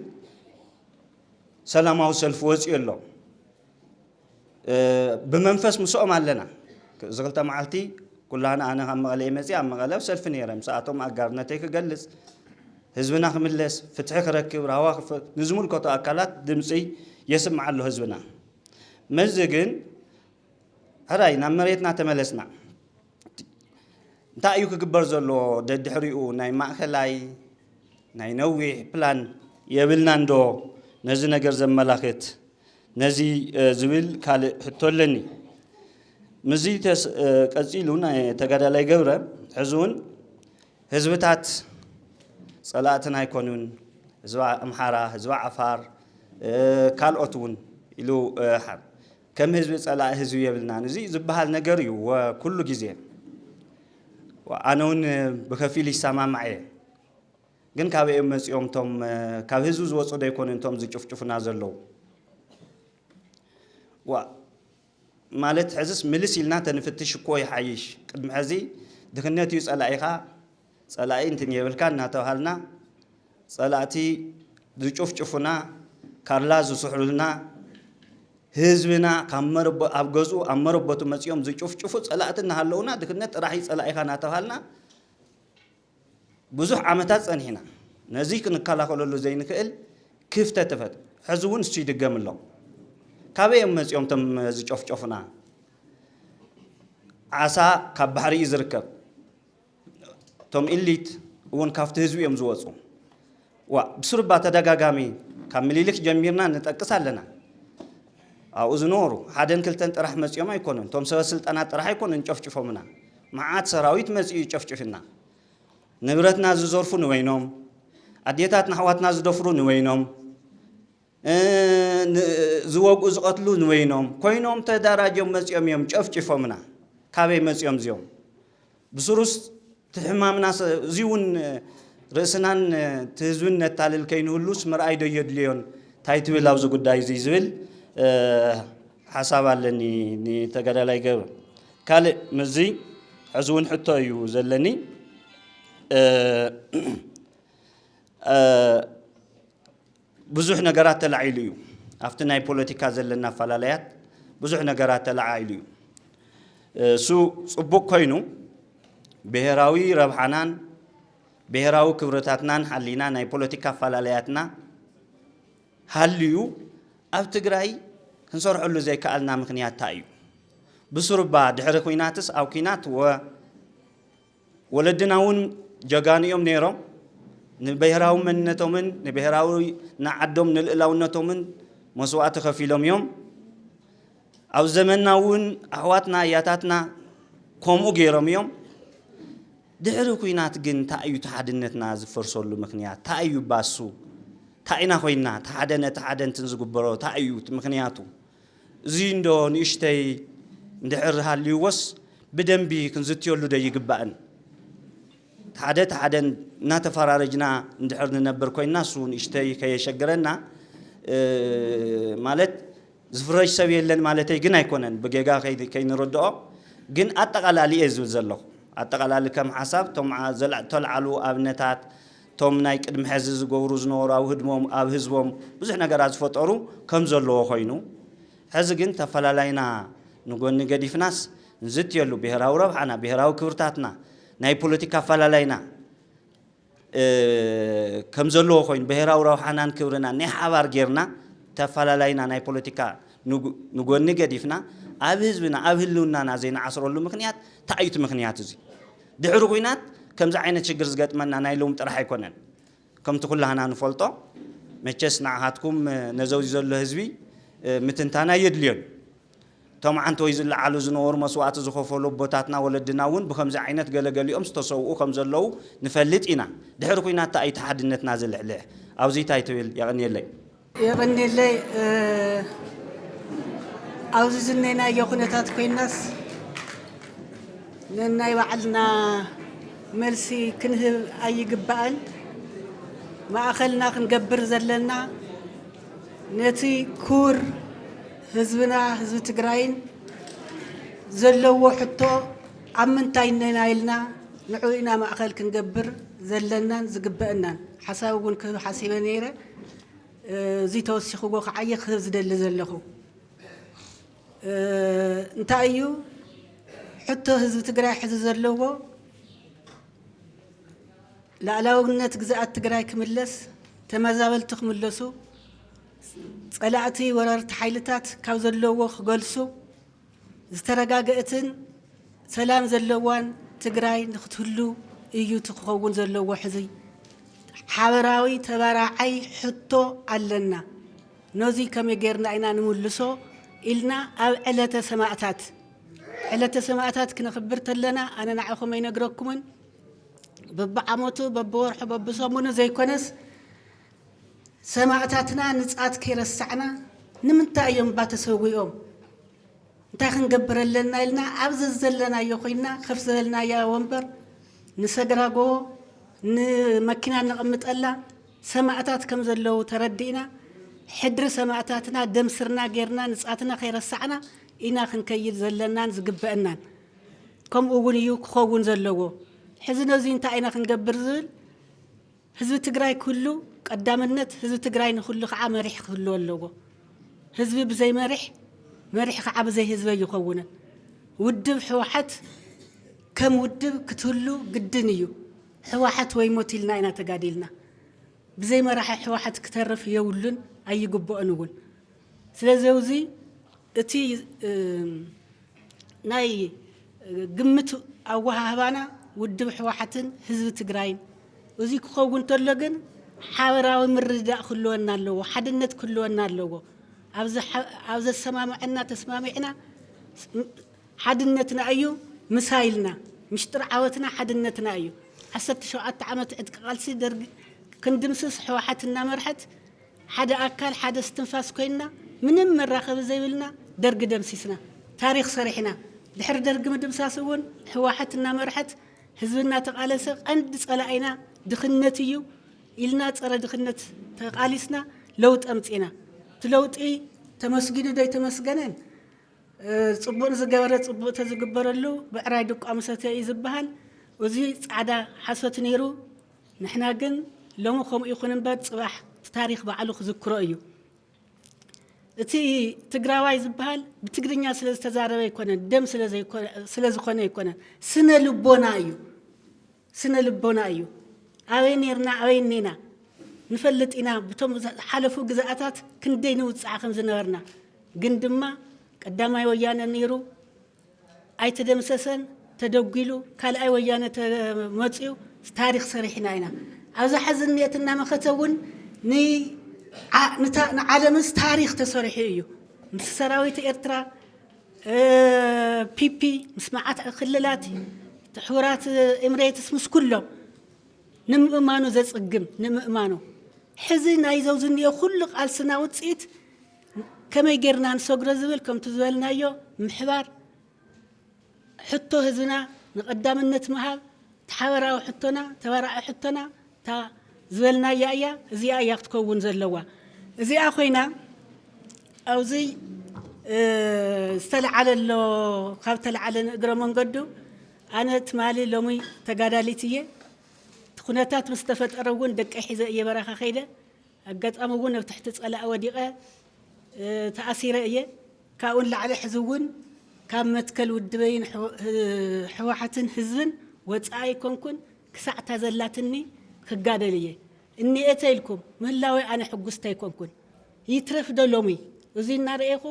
ሰላማዊ ሰልፊ ወፂኡ ኣሎ። ብመንፈስ ምስኦም ኣለና። እዚ ክልተ መዓልቲ ኩላህና ኣነ ካብ መቐለ እየ መፅኣ ኣብ መቐለ ኣብ ሰልፊ ነይረ ምስኣቶም ኣጋርነተይ ክገልፅ ህዝብና ክምለስ ፍትሒ ክረክብ ራህዋ ንዝምልከቶ ኣካላት ድምፂ የስምዓ ኣሎ ህዝብና መዚ ግን ሕራይ ናብ መሬትና ተመለስና። እንታይ እዩ ክግበር ዘለዎ ደድሕሪኡ ናይ ማእከላይ ናይ ነዊሕ ፕላን የብልናን ዶ ነዚ ነገር ዘመላኽት ነዚ ዝብል ካልእ ሕቶ ኣለኒ። ምስዚ ቀጺሉ ተጋዳላይ ገብረ ሕዚ እውን ህዝብታት ጸላእትና ኣይኮኑን ህዝቢ ኣምሓራ፣ ህዝቢ ዓፋር ካልኦት እውን ኢሉ ከም ህዝቢ ጸላኢ ህዝቢ የብልናን እዚ ዝብሃል ነገር እዩ ኩሉ ግዜ ኣነ እውን ብከፊል ይሰማማዕ እየ ግን ካበይ እዮም መጺኦም እቶም ካብ ህዝቢ ዝወጹ ዶ ይኮኑ እቶም ዝጭፍጭፉና ዘለዉ ማለት ሕዝስ ምልስ ኢልና ተንፍትሽ እኮ ይሓይሽ ቅድሚ ሕዚ ድኽነት እዩ ጸላኢኻ ጸላኢ እንትን የብልካን እናተብሃልና ጸላእቲ ዝጭፍጭፉና ካርላ ዝስሕሉልና ህዝብና ካብ መረቦ ኣብ ገዝኡ ኣብ መረቦቱ መጺኦም ዝጭፍጭፉ ጸላእቲ እናሃለዉና ድክነት ጥራሕ እዩ ጸላኢኻ እናተብሃልና ብዙሕ ዓመታት ጸኒሕና ነዚ ክንከላኸለሉ ዘይንክእል ክፍተት ተፈት ሕዚ እውን እሱ ይድገም ኣሎ ካበይ እዮም መጺኦም እቶም ዝጨፍጨፉና ዓሳ ካብ ባሕሪ እዩ ዝርከብ እቶም ኢሊት እውን ካብቲ ህዝቢ እዮም ዝወፁ። ዋእ ብስሩባ ተደጋጋሚ ካብ ምሊልክ ጀሚርና ንጠቅስ ኣለና። ኣብኡ ዝነበሩ ሓደን ክልተን ጥራሕ መፂኦም ኣይኮኑን። እቶም ሰበ ስልጣናት ጥራሕ ኣይኮኑን ጨፍጭፎምና። መዓት ሰራዊት መፂኡ እዩ ጨፍጭፍና። ንብረትና ዝዘርፉ ንበይኖም፣ ኣዴታትና ኣሕዋትና ዝደፍሩ ንበይኖም፣ ዝወግኡ ዝቐትሉ ንበይኖም ኮይኖም ተዳራጆም መጺኦም እዮም ጨፍጭፎምና ካበይ መጺኦም እዚኦም ብስሩስ ትሕማምና እዚ እውን ርእስናን ትህዝብን ነታልል ከይንህሉስ ምርኣይ ዶ የድልዮን እንታይ ትብል ኣብዚ ጉዳይ እዚ ዝብል ሓሳብ ኣለኒ ንተጋዳላይ ገብረ ካልእ ምዚ ሕዚ እውን ሕቶ እዩ ዘለኒ ብዙሕ ነገራት ተላዒሉ እዩ። ኣብቲ ናይ ፖለቲካ ዘለና ኣፈላላያት ብዙሕ ነገራት ተለዓዒሉ እዩ። እሱ ፅቡቕ ኮይኑ ብሄራዊ ረብሓናን ብሄራዊ ክብርታትናን ሓሊና ናይ ፖለቲካ ኣፈላላያትና ሃልዩ ኣብ ትግራይ ክንሰርሐሉ ዘይከኣልና ምክንያት እንታይ እዩ? ብስሩባ ድሕሪ ኩናትስ ኣብ ኩናት ወ ወለድና እውን ጀጋኑ እዮም ነይሮም። ንብሄራዊ መንነቶምን ንብሄራዊ ንዓዶም ንልእላውነቶምን መስዋእቲ ከፊሎም እዮም። ኣብ ዘመንና እውን ኣሕዋትና ኣያታትና ከምኡ ገይሮም እዮም። ድሕሪ ኩናት ግን እንታይ እዩ ተሓድነትና ዝፈርሰሉ ምክንያት? እንታይ እዩ ባሱ? እንታይ ኢና ኮይና? እቲ ሓደ ነቲ ሓደ እንትን ዝግበሮ እንታይ እዩ ምክንያቱ? እዚ እንዶ ንእሽተይ እንድሕር ሃልይዎስ ብደንቢ ክንዝትየሉ ዶ ኣይግባእን? ሓደ ሓደ እናተፈራረጅና እንድሕር ንነብር ኮይንና እሱ ንእሽተይ ከየሸግረና ማለት ዝፍረጅ ሰብ የለን ማለተይ ግን ኣይኮነን ብጌጋ ከይንርድኦ ግን ኣጠቓላሊ እየ ዝብል ዘለኹ ኣጠቓላሊ ከም ሓሳብ እቶም ተልዓሉ ኣብነታት እቶም ናይ ቅድሚ ሐዚ ዝገብሩ ዝነበሩ ኣብ ህድሞም ኣብ ህዝቦም ብዙሕ ነገራት ዝፈጠሩ ከምዘለዎ ኮይኑ ሐዚ ግን ተፈላላይና ንጎኒ ገዲፍናስ ንዝትየሉ ብሄራዊ ረብሓና ብሄራዊ ክብርታትና ናይ ፖለቲካ ኣፈላላይና ከምዘለዎ ኮይኑ ብሄራዊ ረብሓናን ክብርናን ናይ ሓባር ጌርና ተፈላላይና ናይ ፖለቲካ ንጎኒ ገዲፍና ኣብ ህዝብና ኣብ ህልውናና ዘይንዓስረሉ ምክንያት ታይ እዩ እቲ ምክንያት እዙይ? ድሕሪ ኹናት ከምዚ ዓይነት ሽግር ዝገጥመና ናይ ሎሚ ጥራሕ ኣይኮነን ከምቲ ኩላህና ንፈልጦ መቸስ ንዓኻትኩም ነዘውዚ ዘሎ ህዝቢ ምትንታን ኣየድልዮን እዩ እቶም ዓንተወይ ዝለዓሉ ዝነበሩ መስዋእቲ ዝኸፈሉ ኣቦታትና ወለድና እውን ብከምዚ ዓይነት ገለ ገሊኦም ዝተሰውኡ ከም ዘለዉ ንፈልጥ ኢና ድሕሪ ኹናት ታይ እዩ እቲ ሓድነትና ዝልሕልሕ ኣብዙይ ታይ ትብል የቐንየለይ የቐንየለይ ኣብዚ ዝነናዮ ኩነታት ኮይናስ ነናይ ባዕልና መልሲ ክንህብ ኣይግባእን ማእኸልና ክንገብር ዘለና ነቲ ክቡር ህዝብና ህዝቢ ትግራይን ዘለዎ ሕቶ ኣብ ምንታይ ነና ኢልና ንዕኡ ኢና ማእኸል ክንገብር ዘለናን ዝግበአናን ሓሳብ እውን ክህብ ሓሲበ ነይረ እዙይ ተወሲኽዎ ክዓይኽ ዝደሊ ዘለኹ እንታይ እዩ ሕቶ ህዝቢ ትግራይ ሕዚ ዘለዎ ላዕላውነት ግዝኣት ትግራይ ክምለስ ተመዛበልቲ ክምለሱ ፀላእቲ ወረርቲ ሓይልታት ካብ ዘለዎ ክገልሱ ዝተረጋገእትን ሰላም ዘለዋን ትግራይ ንክትህሉ እዩ እቲ ክኸውን ዘለዎ ሕዚ ሓበራዊ ተባራዓይ ሕቶ ኣለና ነዙይ ከመይ ጌርና ኢና ንምልሶ ኢልና ኣብ ዕለተ ሰማእታት ዕለተ ሰማእታት ክነኽብር ተለና ኣነ ንዓኹም ኣይነግረኩምን በብዓመቱ በብወርሑ በብሰሙኑ ዘይኮነስ ሰማእታትና ንጻት ከይረሳዕና ንምንታይ እዮም እባ ተሰዊኦም እንታይ ክንገብር ኣለና ኢልና ኣብ ዘዘለናዮ ኮይና ከፍ ዝበልናያ ወንበር ንሰግራጎቦ ንመኪና ነቕምጠላ ሰማእታት ከም ዘለዉ ተረዲእና ሕድሪ ሰማእታትና ደም ስርና ጌርና ንጻትና ከይረሳዕና ኢና ክንከይድ ዘለናን ዝግበአናን ከምኡ እውን እዩ ክኸውን ዘለዎ ሕዚ ነዙይ እንታይ ኢና ክንገብር ዝብል ህዝቢ ትግራይ ክህሉ ቀዳምነት ህዝቢ ትግራይ ንክህሉ ከዓ መሪሕ ክህልዎ ኣለዎ። ህዝቢ ብዘይ መሪሕ መሪሕ ከዓ ብዘይ ህዝቢ ኣይኸውንን። ውድብ ሕዋሓት ከም ውድብ ክትህሉ ግድን እዩ። ሕዋሓት ወይ ሞት ኢልና ኢና ተጋዲልና። ብዘይ መራሒ ሕዋሓት ክተርፍ የብሉን ኣይግበኦን እውን። ስለዚ እውዚ እቲ ናይ ግምት ኣወሃህባና ውድብ ሕወሓትን ህዝቢ ትግራይን እዙይ ክኸውን እንተሎ ግን ሓበራዊ ምርድዳእ ክህልወና ኣለዎ፣ ሓድነት ክህልወና ኣለዎ። ኣብ ዘሰማምዐና ተስማሚዕና ሓድነትና እዩ ምሳ ኢልና። ምሽጥር ዓወትና ሓድነትና እዩ። ዓሰርተ ሸውዓተ ዓመት ዕጥቂ ቃልሲ ደርጊ ክንድምስስ ሕወሓት እናመርሐት ሓደ ኣካል ሓደ እስትንፋስ ኮይንና ምንም መራኸቢ ዘይብልና ደርጊ ደምሲስና ታሪኽ ሰሪሕና ድሕሪ ደርጊ ምድምሳስ እውን ህዋሕት እናመርሐት ህዝቢ እናተቓለሰ ቐንዲ ፀላኢና ድኽነት እዩ ኢልና ፀረ ድኽነት ተቓሊስና ለውጢ ኣምፂእና እቲ ለውጢ ተመስጊኑ ዶ ኣይተመስገነን ፅቡቕ ንዝገበረ ፅቡቕ ተዝግበረሉ ብዕራይ ድቋ ምሰተየ እዩ ዝበሃል እዚ ፃዕዳ ሓሶት ነይሩ ንሕና ግን ሎሚ ከምኡ ይኹን እምበር ጽባሕ እቲ ታሪኽ ባዕሉ ክዝክሮ እዩ። እቲ ትግራዋይ ዝበሃል ብትግርኛ ስለ ዝተዛረበ ኣይኮነን፣ ደም ስለ ዝኾነ ኣይኮነን፣ ስነ ልቦና እዩ። ስነ ልቦና እዩ። ኣበይ ነርና ኣበይ እኔና ንፈልጥ ኢና፣ ብቶም ሓለፉ ግዝኣታት ክንደይ ንውጽዓ ከም ዝነበርና ግን ድማ ቀዳማይ ወያነ ነይሩ ኣይተደምሰሰን ተደጒሉ ካልኣይ ወያነ ተመፅዩ ታሪክ ሰሪሕና ኢና ኣብዛ ሐዚ እኒኤት እናመኸተ እውን ንዓለምስ ታሪክ ተሰሪሑ እዩ ምስ ሰራዊት ኤርትራ ፒፒ ምስ መዓት ክልላት ሕቡራት ኤምሬትስ ምስ ኩሎም ንምእማኑ ዘፅግም ንምእማኑ ሕዚ ናይዘው ዝኒኦ ኩሉ ቃልስና ውፅኢት ከመይ ጌርና ንሰግሮ ዝብል ከምቲ ዝበልናዮ ምሕባር፣ ሕቶ ህዝብና ንቐዳምነት ምሃብ፣ እቲ ሓበራዊ ሕቶና፣ ተባራዒ ሕቶና እታ ዝበልናያ እያ፣ እዚኣ እያ ክትከውን ዘለዋ። እዚኣ ኮይና ኣብዚ ዝተልዓለ ኣሎ፣ ካብ ተልዓለ ንእግረ መንገዱ ኣነ ትማሊ ሎሚ ተጋዳሊት እየ፣ እቲ ኩነታት ምስ ተፈጠረ እውን ደቀይ ሒዘ እየ በረኻ ከይደ፣ ኣጋጣሚ እውን ኣብ ትሕቲ ፀላኢ ወዲቐ ተኣሲረ እየ። ካብኡ ንላዕሊ ሕዚ እውን ካብ መትከል ውድበይን ህወሓትን ህዝብን ወፃኢ ኣይኮንኩን። ክሳዕ እታ ዘላትኒ ክጋደል እየ። እኒኤ ተይልኩም ምህላወይ ኣነ ሕጉስቲ ኣይኮንኩን። ይትረፍ ዶ ሎሚ እዙይ እናረኤኹ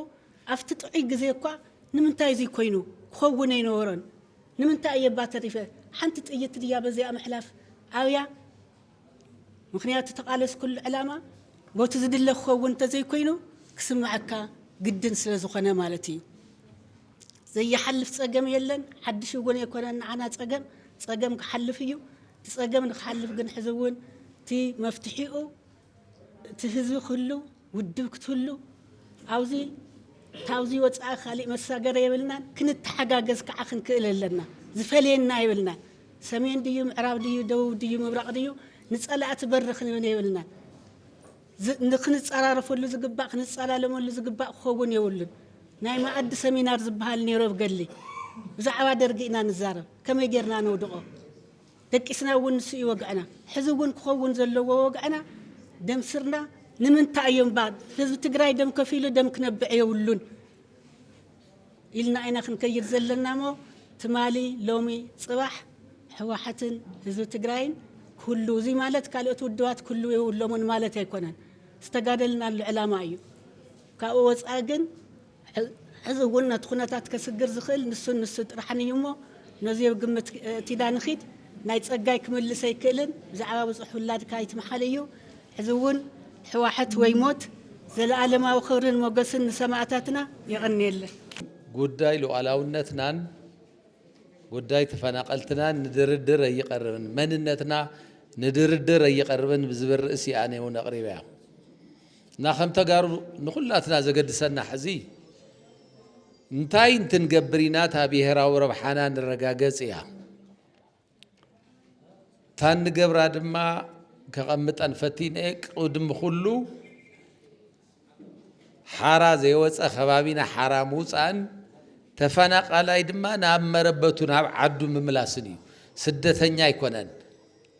ኣብቲ ጥዑይ ግዜ እኳ ንምንታይ እዙይ ኮይኑ ክኸውን ኣይነበሮን ንምንታይ እየ እባ ተሪፈ ሓንቲ ጥይት ድያ በዚኣ ምሕላፍ ኣብያ ምኽንያቱ እተቓለስኩሉ ዕላማ ቦቲ ዝድለ ክኸውን እንተዘይኮይኑ ክስምዓካ ግድን ስለዝኾነ ማለት እዩ። ዘይሓልፍ ጸገም የለን፣ ሓድሽ እውን ኣይኮነን ንዓና ጸገም፣ ጸገም ክሓልፍ እዩ። እቲ ጸገም ንክሓልፍ ግን ሕዚ እውን እቲ መፍትሒኡ እቲ ህዝቢ ክህሉ፣ ውድብ ክትህሉ ኣብዚ ታብዚ ወጻኢ ካሊእ መሳገሪ የብልናን ክንተሓጋገዝ ካዓ ክንክእል ኣለና ዝፈልየና የብልናን ሰሜን ድዩ ምዕራብ ድዩ ደቡብ ድዩ ምብራቅ ድዩ ንጸላእቲ በሪ ክንብን የብልናን ንክንጸራረፈሉ ዝግባእ ክንጸላለመሉ ዝግባእ ክኸውን የብሉን ናይ ማኣዲ ሰሚናር ዝባሃል ኔሩ ኣብ ገድሊ ብዛዕባ ደርጊ ኢና ንዛረብ ከመይ ጌርና ነውድቆ ደቂስና እውን ንሱ እዩ ወግዕና። ሕዚ እውን ክኸውን ዘለዎ ወግዕና ደም ስርና ንምንታይ እዮም እባ ህዝቢ ትግራይ ደም ከፊሉ ደም ክነብዕ የብሉን ኢልና ኢና ክንከይድ ዘለና እሞ ትማሊ ሎሚ ፅባሕ ህወሓትን ህዝቢ ትግራይን ክህሉ እዙይ ማለት ካልኦት ውድባት ክህሉ የብሎምን ማለት ኣይኮነን ዝተጋደልናሉ ዕላማ እዩ ካብኡ ወፃኢ ግን ሕዚ እውን ነቲ ኩነታት ከስግር ዝኽእል ንሱን ንሱ ጥራሕን እዩ እሞ ነዙይ ኣብ ግምት እቲዳ ንኺድ። ናይ ጸጋይ ክምልስ ኣይክእልን ብዛዕባ ብጹሕ ውላድካ ኣይትምሓል እዩ። ሕዚ እውን ሕዋሕት ወይ ሞት። ዘለኣለማዊ ክብርን ሞገስን ንሰማእታትና። የቐንየለይ። ጉዳይ ሉኣላውነትናን ጉዳይ ተፈናቐልትናን ንድርድር ኣይቐርብን፣ መንነትና ንድርድር ኣይቐርብን ብዝብል ርእሲ እያ እኔ እውን ኣቕሪበያ። እና ከም ተጋሩ ንኹላትና ዘገድሰና ሕዚ እንታይ እንትንገብር ኢና እታ ብሄራዊ ረብሓና ንረጋገጽ እያ እታ እንገብራ ድማ ከቐምጠን ፈቲነ ቅድሚ ኩሉ ሓራ ዘይወፀ ከባቢና ሓራ ምውፃእን ተፈናቃላይ ድማ ናብ መረበቱ ናብ ዓዱ ምምላስን እዩ ስደተኛ ኣይኮነን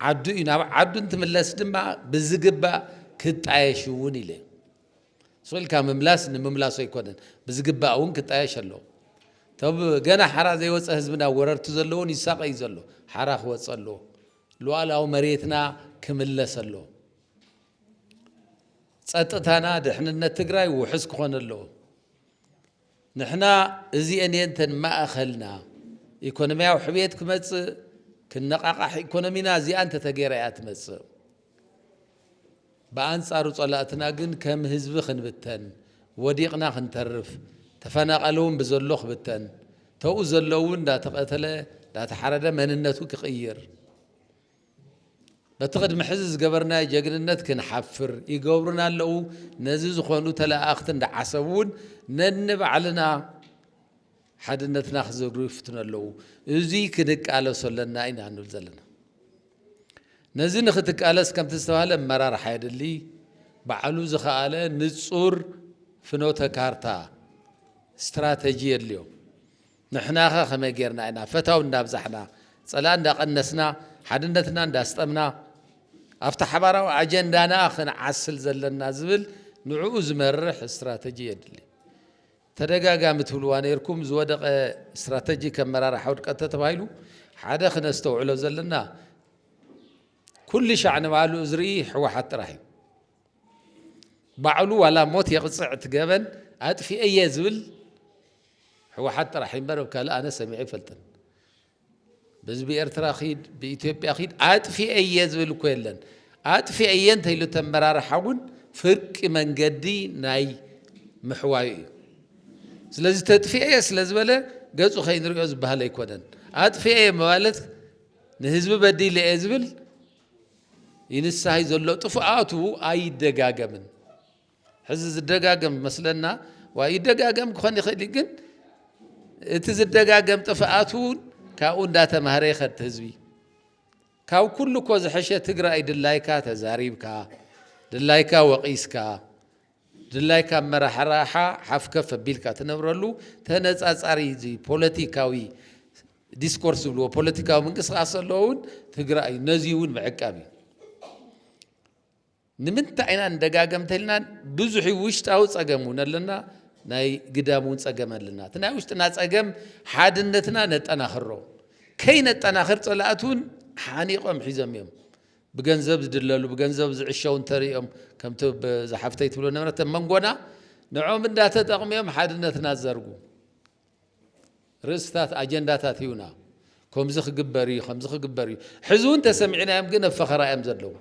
ዓዱ እዩ፣ ናብ ዓዱ እንትምለስ ድማ ብዝግባእ ክጣየሽ እውን ኢለ። ሱቕ ኢልካ ምምላስ ንምምላሱ ኣይኮነን፣ ብዝግባእ እውን ክጣየሽ ኣለዎ። እቶም ገና ሓራ ዘይወፀ ህዝብና ወረርቲ ዘለዉን ይሳቐ እዩ ዘሎ፣ ሓራ ክወፀ ኣለዎ። ሉኣላዊ መሬትና ክምለስ ኣለዎ። ፀጥታና፣ ድሕንነት ትግራይ ውሑስ ክኾን ኣለዎ። ንሕና እዚኤን እየን እተን ማእኸልና፣ ኢኮኖሚያዊ ሕብየት ክመፅእ፣ ክነቓቓሕ ኢኮኖሚና እዚኣ እንተተገይራ እያ ትመፅእ። ብኣንፃሩ ፀላእትና ግን ከም ህዝቢ ክንብተን፣ ወዲቕና ክንተርፍ፣ ተፈናቐሊ እውን ብዘሎ ክብተን፣ ተኡ ዘሎ እውን እንዳተቐተለ እንዳተሓረደ መንነቱ ክቕይር፣ በቲ ቅድሚ ሕዚ ዝገበርናዮ ጀግንነት ክንሓፍር ይገብሩና ኣለዉ። ነዚ ዝኾኑ ተለኣኣኽቲ እንዳዓሰቡ እውን ነንባዕልና ሓድነትና ክዝርግሩ ይፍትኑ ኣለዉ። እዙይ ክንቃለሶ ኣለና ኢና ንብል ዘለና። ነዚ ንክትቃለስ ከምቲ ዝተባሃለ ኣመራርሓ የድሊ ባዕሉ ዝኸኣለ ንፁር ፍኖተ ካርታ ስትራተጂ የድልዮ ንሕናኸ ከመይ ጌርና ኢና ፈታው እንዳብዛሕና ጸላኢ እንዳቀነስና ሓድነትና እንዳስጠምና ኣብቲ ሓባራዊ ኣጀንዳና ክንዓስል ዘለና ዝብል ንዕኡ ዝመርሕ ስትራተጂ የድሊ። ተደጋጋሚ ትብልዋ ነይርኩም ዝወደቐ ስትራተጂ ከም መራርሓ ውድቀት ተተባሂሉ ሓደ ክነስተውዕሎ ዘለና ኩልሻዕ ንባዕሉ ዝርኢ ሕወሓት ጥራሕ እዩ። ባዕሉ ዋላ ሞት የቕፅዕ እቲ ገበን ኣጥፊኤ እየ ዝብል ህወሓት ጥራሕ እምበር ኣብ ካልእ ኣነ ሰሚዐ ይፈልጥን ብህዝቢ ኤርትራ ኺድ ብኢትዮጵያ ኺድ ኣጥፊኤ እየ ዝብል እኮ የለን። ኣጥፊኤ እየ እንተይሉ ተመራርሓ እውን ፍርቂ መንገዲ ናይ ምሕዋዩ እዩ። ስለዚ ተጥፊኤ እየ ስለ ዝበለ ገጹ ከይንሪኦ ዝበሃል ኣይኮነን። ኣጥፊኤ እየ ማለት ንህዝቢ በዲለ እየ ዝብል ይንሳሂ ዘሎ ጥፍኣቱ ኣይደጋገምን ሕዚ ዝደጋገም መስለና ዋ ይደጋገም ክኾን ይኽእል እዩ ግን እቲ ዝደጋገም ጥፍኣት እውን ካብኡ እንዳተማህረ ይኸድ ህዝቢ ካብ ኩሉ እኮ ዝሐሸ ትግራይ ድላይካ ተዛሪብካ ድላይካ ወቒስካ ድላይካ ኣመራርሓ ሓፍ ከፍ ኣቢልካ ትነብረሉ ተነፃፃሪ እዚ ፖለቲካዊ ዲስኮርስ ዝብልዎ ፖለቲካዊ ምንቅስቃስ ዘለዎ እውን ትግራይ እዩ ነዚ እውን ምዕቃብ እዩ ንምንታይ ኢና ንደጋገምተ ኢልናን ብዙሕ ውሽጣዊ ፀገም እውን ኣለና ናይ ግዳም እውን ፀገም ኣለና እቲ ናይ ውሽጥና ፀገም ሓድነትና ነጠናኽሮ ከይነጠናኽር ፀላእት እውን ሓኒቆም ሒዞም እዮም ብገንዘብ ዝድለሉ ብገንዘብ ዝዕሸው እንተሪኦም ከምቲ ዝሓፍተይ ትብሎ ነበረት ኣብ መንጎና ንዕኦም እንዳተጠቕሙ እዮም ሓድነትና ዝዘርጉ ርእስታት ኣጀንዳታት ይዩና ከምዚ ክግበር እዩ ከምዚ ክግበር እዩ ሕዚ እውን ተሰሚዕናዮም ግን ኣብ ፈኸራ እዮም ዘለዉ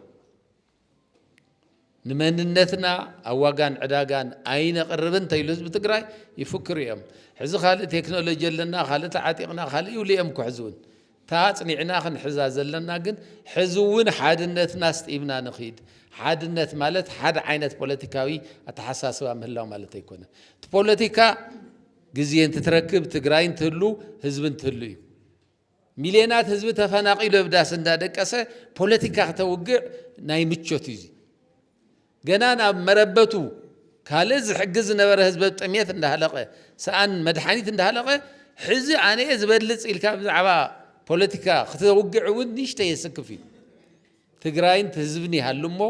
ንመንነትና ኣብ ዋጋን ዕዳጋን ኣይነቅርብን እንተይሉ ህዝቢ ትግራይ ይፍክሩ እዮም ሕዚ ካልእ ቴክኖሎጂ ኣለና ካልእ ተዓጢቅና ካልእ ይብሉ እዮም እኮ ሕዚ እውን እታ ኣፅኒዕና ክንሕዛ ዘለና ግን ሕዚ እውን ሓድነትና ኣስጢምና ንኺድ ሓድነት ማለት ሓደ ዓይነት ፖለቲካዊ ኣተሓሳስባ ምህላው ማለት ኣይኮነን እቲ ፖለቲካ ግዜ እንትትረክብ ትግራይ እንትህሉ ህዝቢ እንትህሉ እዩ ሚልየናት ህዝቢ ተፈናቂሉ ኣብ ዳስ እንዳ ደቀሰ ፖለቲካ ክተውግዕ ናይ ምቾት እዩ እዚ ገና ናብ መረበቱ ካልእ ዝሕግዝ ዝነበረ ህዝቢ ኣብ ጥምየት እንዳሃለቀ ሰኣን መድሓኒት እንዳሃለቀ ሕዚ ኣነ እየ ዝበልፅ ኢልካ ብዛዕባ ፖለቲካ ክተውግዕ እውን ንእሽተይ የስክፍ እዩ ትግራይን ህዝብን ይሃሉ እሞ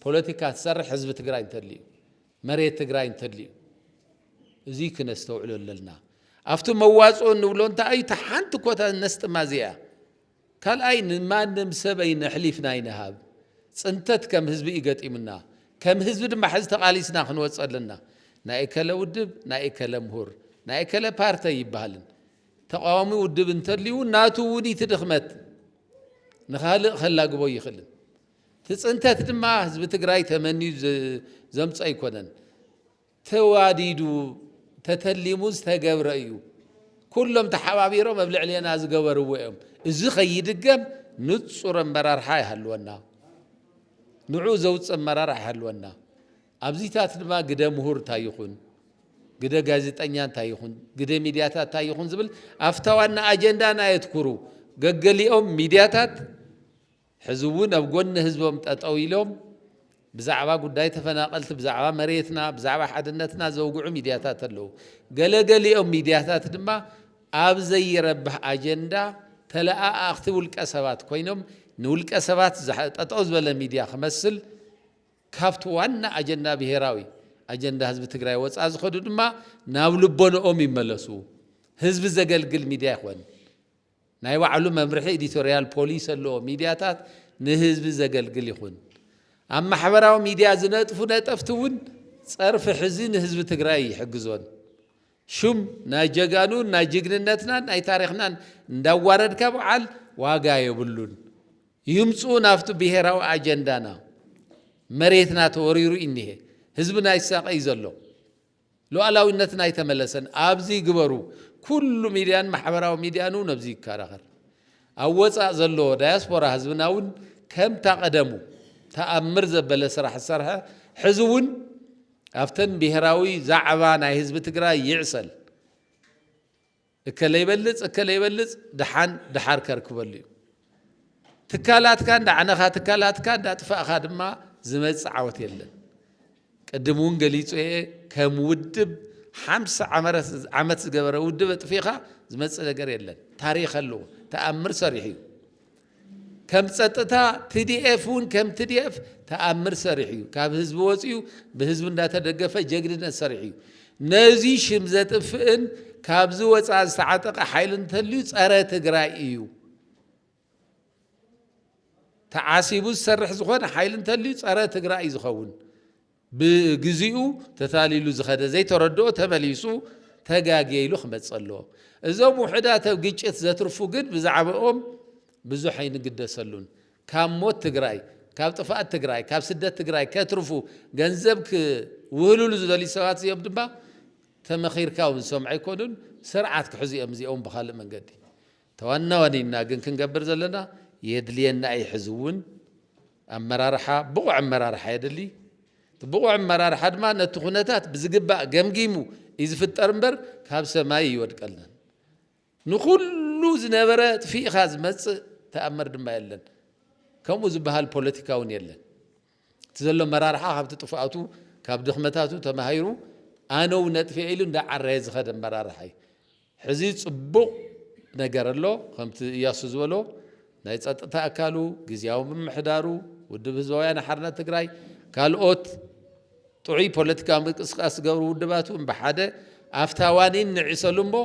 ፖለቲካ ትሰርሕ ህዝቢ ትግራይ እንተልዩ መሬት ትግራይ እንተድልዩ እዙይ ክነስተውዕሎ ኣለና። ኣብቲ መዋፅኦ እንብሎ እንታይ እዩ? እታ ሓንቲ ኮታ ነስጥማ እዚኣ ካልኣይ ንማንም ሰብ ኣይነሕሊፍና ኣይንሃብ። ፅንተት ከም ህዝቢ እዩ ገጢሙና። ከም ህዝቢ ድማ ሕዚ ተቓሊስና ክንወፅ ኣለና። ናይ እከለ ውድብ፣ ናይ እከለ ምሁር፣ ናይ እከለ ፓርቲ ኣይበሃልን። ተቃዋሚ ውድብ እንተልዩ ናቱ እውን እቲ ድኽመት ንኻልእ ከላግቦ ይኽእልን እቲ ፅንተት ድማ ህዝቢ ትግራይ ተመንዩ ዘምፆ ኣይኮነን። ተዋዲዱ ተተሊሙ ዝተገብረ እዩ። ኩሎም ተሓባቢሮም ኣብ ልዕሌና ዝገበርዎ እዮም። እዚ ከይድገም ንፁር ኣመራርሓ ይሃልወና፣ ንዑ ዘውፅእ ኣመራርሓ ይሃልወና። ኣብዚታት ድማ ግደ ምሁር እንታይ ይኹን፣ ግደ ጋዜጠኛ እንታይ ይኹን፣ ግደ ሚዲያታት እንታይ ይኹን ዝብል ኣፍታ ዋና ኣጀንዳና የትኩሩ ገገሊኦም ሚዲያታት ሕዚ እውን ኣብ ጎኒ ህዝቦም ጠጠው ኢሎም ብዛዕባ ጉዳይ ተፈናቐልቲ፣ ብዛዕባ መሬትና፣ ብዛዕባ ሓድነትና ዘውግዑ ሚድያታት ኣለዉ። ገለ ገሊኦም ሚድያታት ድማ ኣብ ዘይረብሕ ኣጀንዳ ተለኣኣኽቲ ውልቀ ሰባት ኮይኖም ንውልቀ ሰባት ጠጠው ዝበለ ሚድያ ክመስል ካብቲ ዋና ኣጀንዳ ብሄራዊ ኣጀንዳ ህዝቢ ትግራይ ወፃእ ዝኸዱ ድማ ናብ ልቦንኦም ይመለሱ። ህዝቢ ዘገልግል ሚድያ ይኾን ናይ ባዕሉ መምርሒ ኢዲቶርያል ፖሊሲ ኣለዎ፣ ሚድያታት ንህዝቢ ዘገልግል ይኹን ኣብ ማሕበራዊ ሚድያ ዝነጥፉ ነጠፍቲ እውን ፀርፊ ሕዚ ንህዝቢ ትግራይ ኣይሕግዞን። ሹም ናይ ጀጋኑ ናይ ጅግንነትናን ናይ ታሪኽናን እንዳዋረድካ በዓል ዋጋ የብሉን። ይምፅኡ ናብቲ ብሄራዊ ኣጀንዳና መሬትና ተወሪሩ እኒሀ ህዝብና ይሳቀይ ዘሎ። ሉኣላዊነትና ኣይተመለሰን ኣብዚ ግበሩ ኩሉ ሚድያን ማሕበራዊ ሚድያን ውን ኣብዚ ይካራኸር ኣብ ወፃእ ዘሎ ዳያስፖራ ህዝብና ውን ከምታ ቀደሙ ታኣምር ዘበለ ስራሕ ዝሰርሐ ሕዚ ውን ኣብተን ብሄራዊ ዛዕባ ናይ ህዝቢ ትግራይ ይዕሰል እከለ ይበልፅ እከለ ይበልፅ ድሓን ድሓር ከርክበሉ እዩ። ትካላትካ እንዳዕነኻ ትካላትካ እንዳጥፋእኻ ድማ ዝመፅእ ዓወት የለን። ቅድም እውን ገሊፁ እየ ከም ውድብ ሓምሳ ዓመት ዝገበረ ውድብ ኣጥፊእኻ ዝመፅእ ነገር የለን። ታሪክ ኣለዎ ተኣምር ሰሪሑ እዩ። ከም ፀጥታ ትዲኤፍ እውን ከም ትዲኤፍ ተኣምር ሰሪሑ እዩ። ካብ ህዝቢ ወፂኡ ብህዝቢ እንዳተደገፈ ጀግንነት ሰሪሑ እዩ። ነዙይ ሽም ዘጥፍእን ካብዚ ወፃኢ ዝተዓጠቐ ሓይሊ እንተልዩ ፀረ ትግራይ እዩ። ተዓሲቡ ዝሰርሕ ዝኾነ ሓይሊ እንተልዩ ፀረ ትግራይ እዩ ዝኸውን። ብግዚኡ ተታሊሉ ዝኸደ ዘይተረድኦ ተመሊሱ ተጋግየ ኢሉ ክመጽእ ኣለዎ። እዞም ውሑዳት ኣብ ግጭት ዘትርፉ ግን ብዛዕብኦም ብዙሕ ኣይንግደሰሉን። ካብ ሞት ትግራይ፣ ካብ ጥፍኣት ትግራይ፣ ካብ ስደት ትግራይ ከትርፉ ገንዘብ ክውህልሉ ዝደልዩ ሰባት እዚኦም ድማ ተመኺርካ እውን ዝሰምዑ ኣይኮኑን። ስርዓት ክሕዙ እዮም እዚኦም ብኻልእ መንገዲ። ተዋናዋኒና ግን ክንገብር ዘለና የድልየና እዪ ሕዚ እውን ኣመራርሓ ብቑዕ ኣመራርሓ የድሊ እቲ ብቑዕ ኣመራርሓ ድማ ነቲ ኩነታት ብዝግባእ ገምጊሙ እዪ ዝፍጠር እምበር ካብ ሰማይ እይወድቀልናን ንኹሉ ዝነበረ ኣጥፊእኻ ዝመፅእ ተኣምር ድማ የለን ከምኡ ዝበሃል ፖለቲካ እውን የለን። እቲ ዘሎ ኣመራርሓ ካብቲ ጥፍኣቱ ካብ ድኽመታቱ ተማሂሩ ኣነው ነጥፍኤ ኢሉ እንዳዓረየ ዝኸደ ኣመራርሓ እዩ። ሕዚ ፅቡቕ ነገር ኣሎ ከምቲ እያሱ ዝበሎ ናይ ፀጥታ ኣካሉ፣ ግዝያዊ ምምሕዳሩ፣ ውድብ ህዝባዊ ወያነ ሓርነት ትግራይ፣ ካልኦት ጥዑይ ፖለቲካዊ ምንቅስቃስ ዝገብሩ ውድባት እውን ብሓደ ኣፍታ ዋኒን ንዕሰሉ እሞ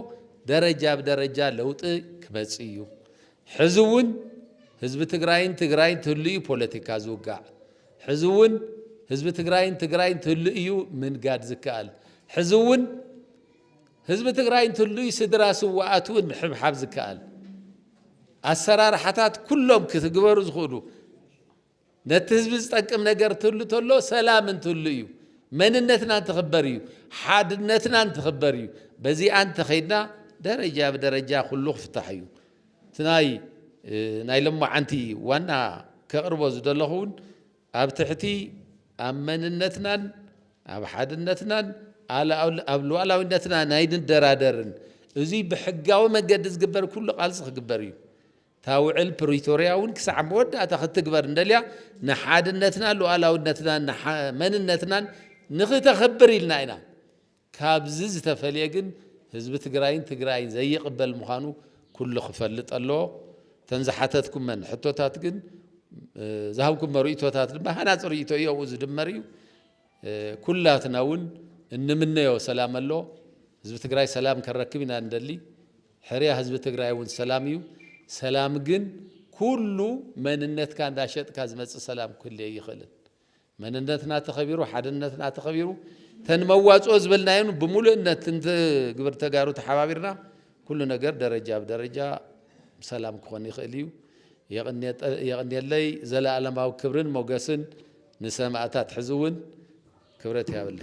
ደረጃ ብደረጃ ለውጢ ክመፅእ እዩ። ሕዚ እውን ህዝቢ ትግራይን ትግራይን ትህሉ እዩ ፖለቲካ ዝውጋዕ። ሕዚ እውን ህዝቢ ትግራይን ትግራይን ትህሉ እዩ ምንጋድ ዝከኣል። ሕዚ እውን ህዝቢ ትግራይን ትህሉ እዩ ስድራ ስዋኣት እውን ምሕብሓብ ዝከኣል። ኣሰራርሓታት ኩሎም ክትግበሩ ዝኽእሉ ነቲ ህዝቢ ዝጠቅም ነገር እንትህሉ ተሎ ሰላም እንትህሉ እዩ፣ መንነትና እንትኽበር እዩ፣ ሓድነትና እንትኽበር እዩ። በዚኣ እንተኸይድና ደረጃ ብደረጃ ኩሉ ክፍታሕ እዩ። እቲ ናይ ናይ ሎማዓንቲ ዋና ከቕርቦ ዝደለኹ እውን ኣብ ትሕቲ ኣብ መንነትናን ኣብ ሓድነትናን ኣብ ሉዓላዊነትና ናይ ንደራደርን እዙይ ብሕጋዊ መንገዲ ዝግበር ኩሉ ቃልሲ ክግበር እዩ። እታ ውዕል ፕሪቶርያ እውን ክሳዕ መወዳእታ ክትግበር እንደልያ ንሓድነትና ሉኣላውነትናን ንሓ መንነትናን ንክተኽብር ኢልና ኢና። ካብዚ ዝተፈልየ ግን ህዝቢ ትግራይን ትግራይን ዘይቕበል ምዃኑ ኩሉ ክፈልጥ ኣለዎ። እተን ዝሓተትኩመን ሕቶታት ግን ዝሃብኩሞ ርእይቶታት ድማ ሃናፂ ርእይቶ እዩ ኣብኡ ዝድመር እዩ። ኩላትና እውን እንምነዮ ሰላም ኣሎ። ህዝቢ ትግራይ ሰላም ከረክብ ኢና እንደሊ። ሕርያ ህዝቢ ትግራይ እውን ሰላም እዩ። ሰላም ግን ኩሉ መንነትካ እንዳሸጥካ ዝመፅእ ሰላም ክህሉ ኣይኽእልን። መንነትና ተኸቢሩ ሓድነትና ተኸቢሩ ተን መዋፅኦ ዝበልናዮን ብምሉእነት እንትግብር ተጋሩ ተሓባቢርና ኩሉ ነገር ደረጃ ብደረጃ ሰላም ክኾን ይኽእል እዩ። የቕኔለይ ዘለኣለማዊ ክብርን ሞገስን ንሰማእታት ሕዚ እውን ክብረት ያብልና።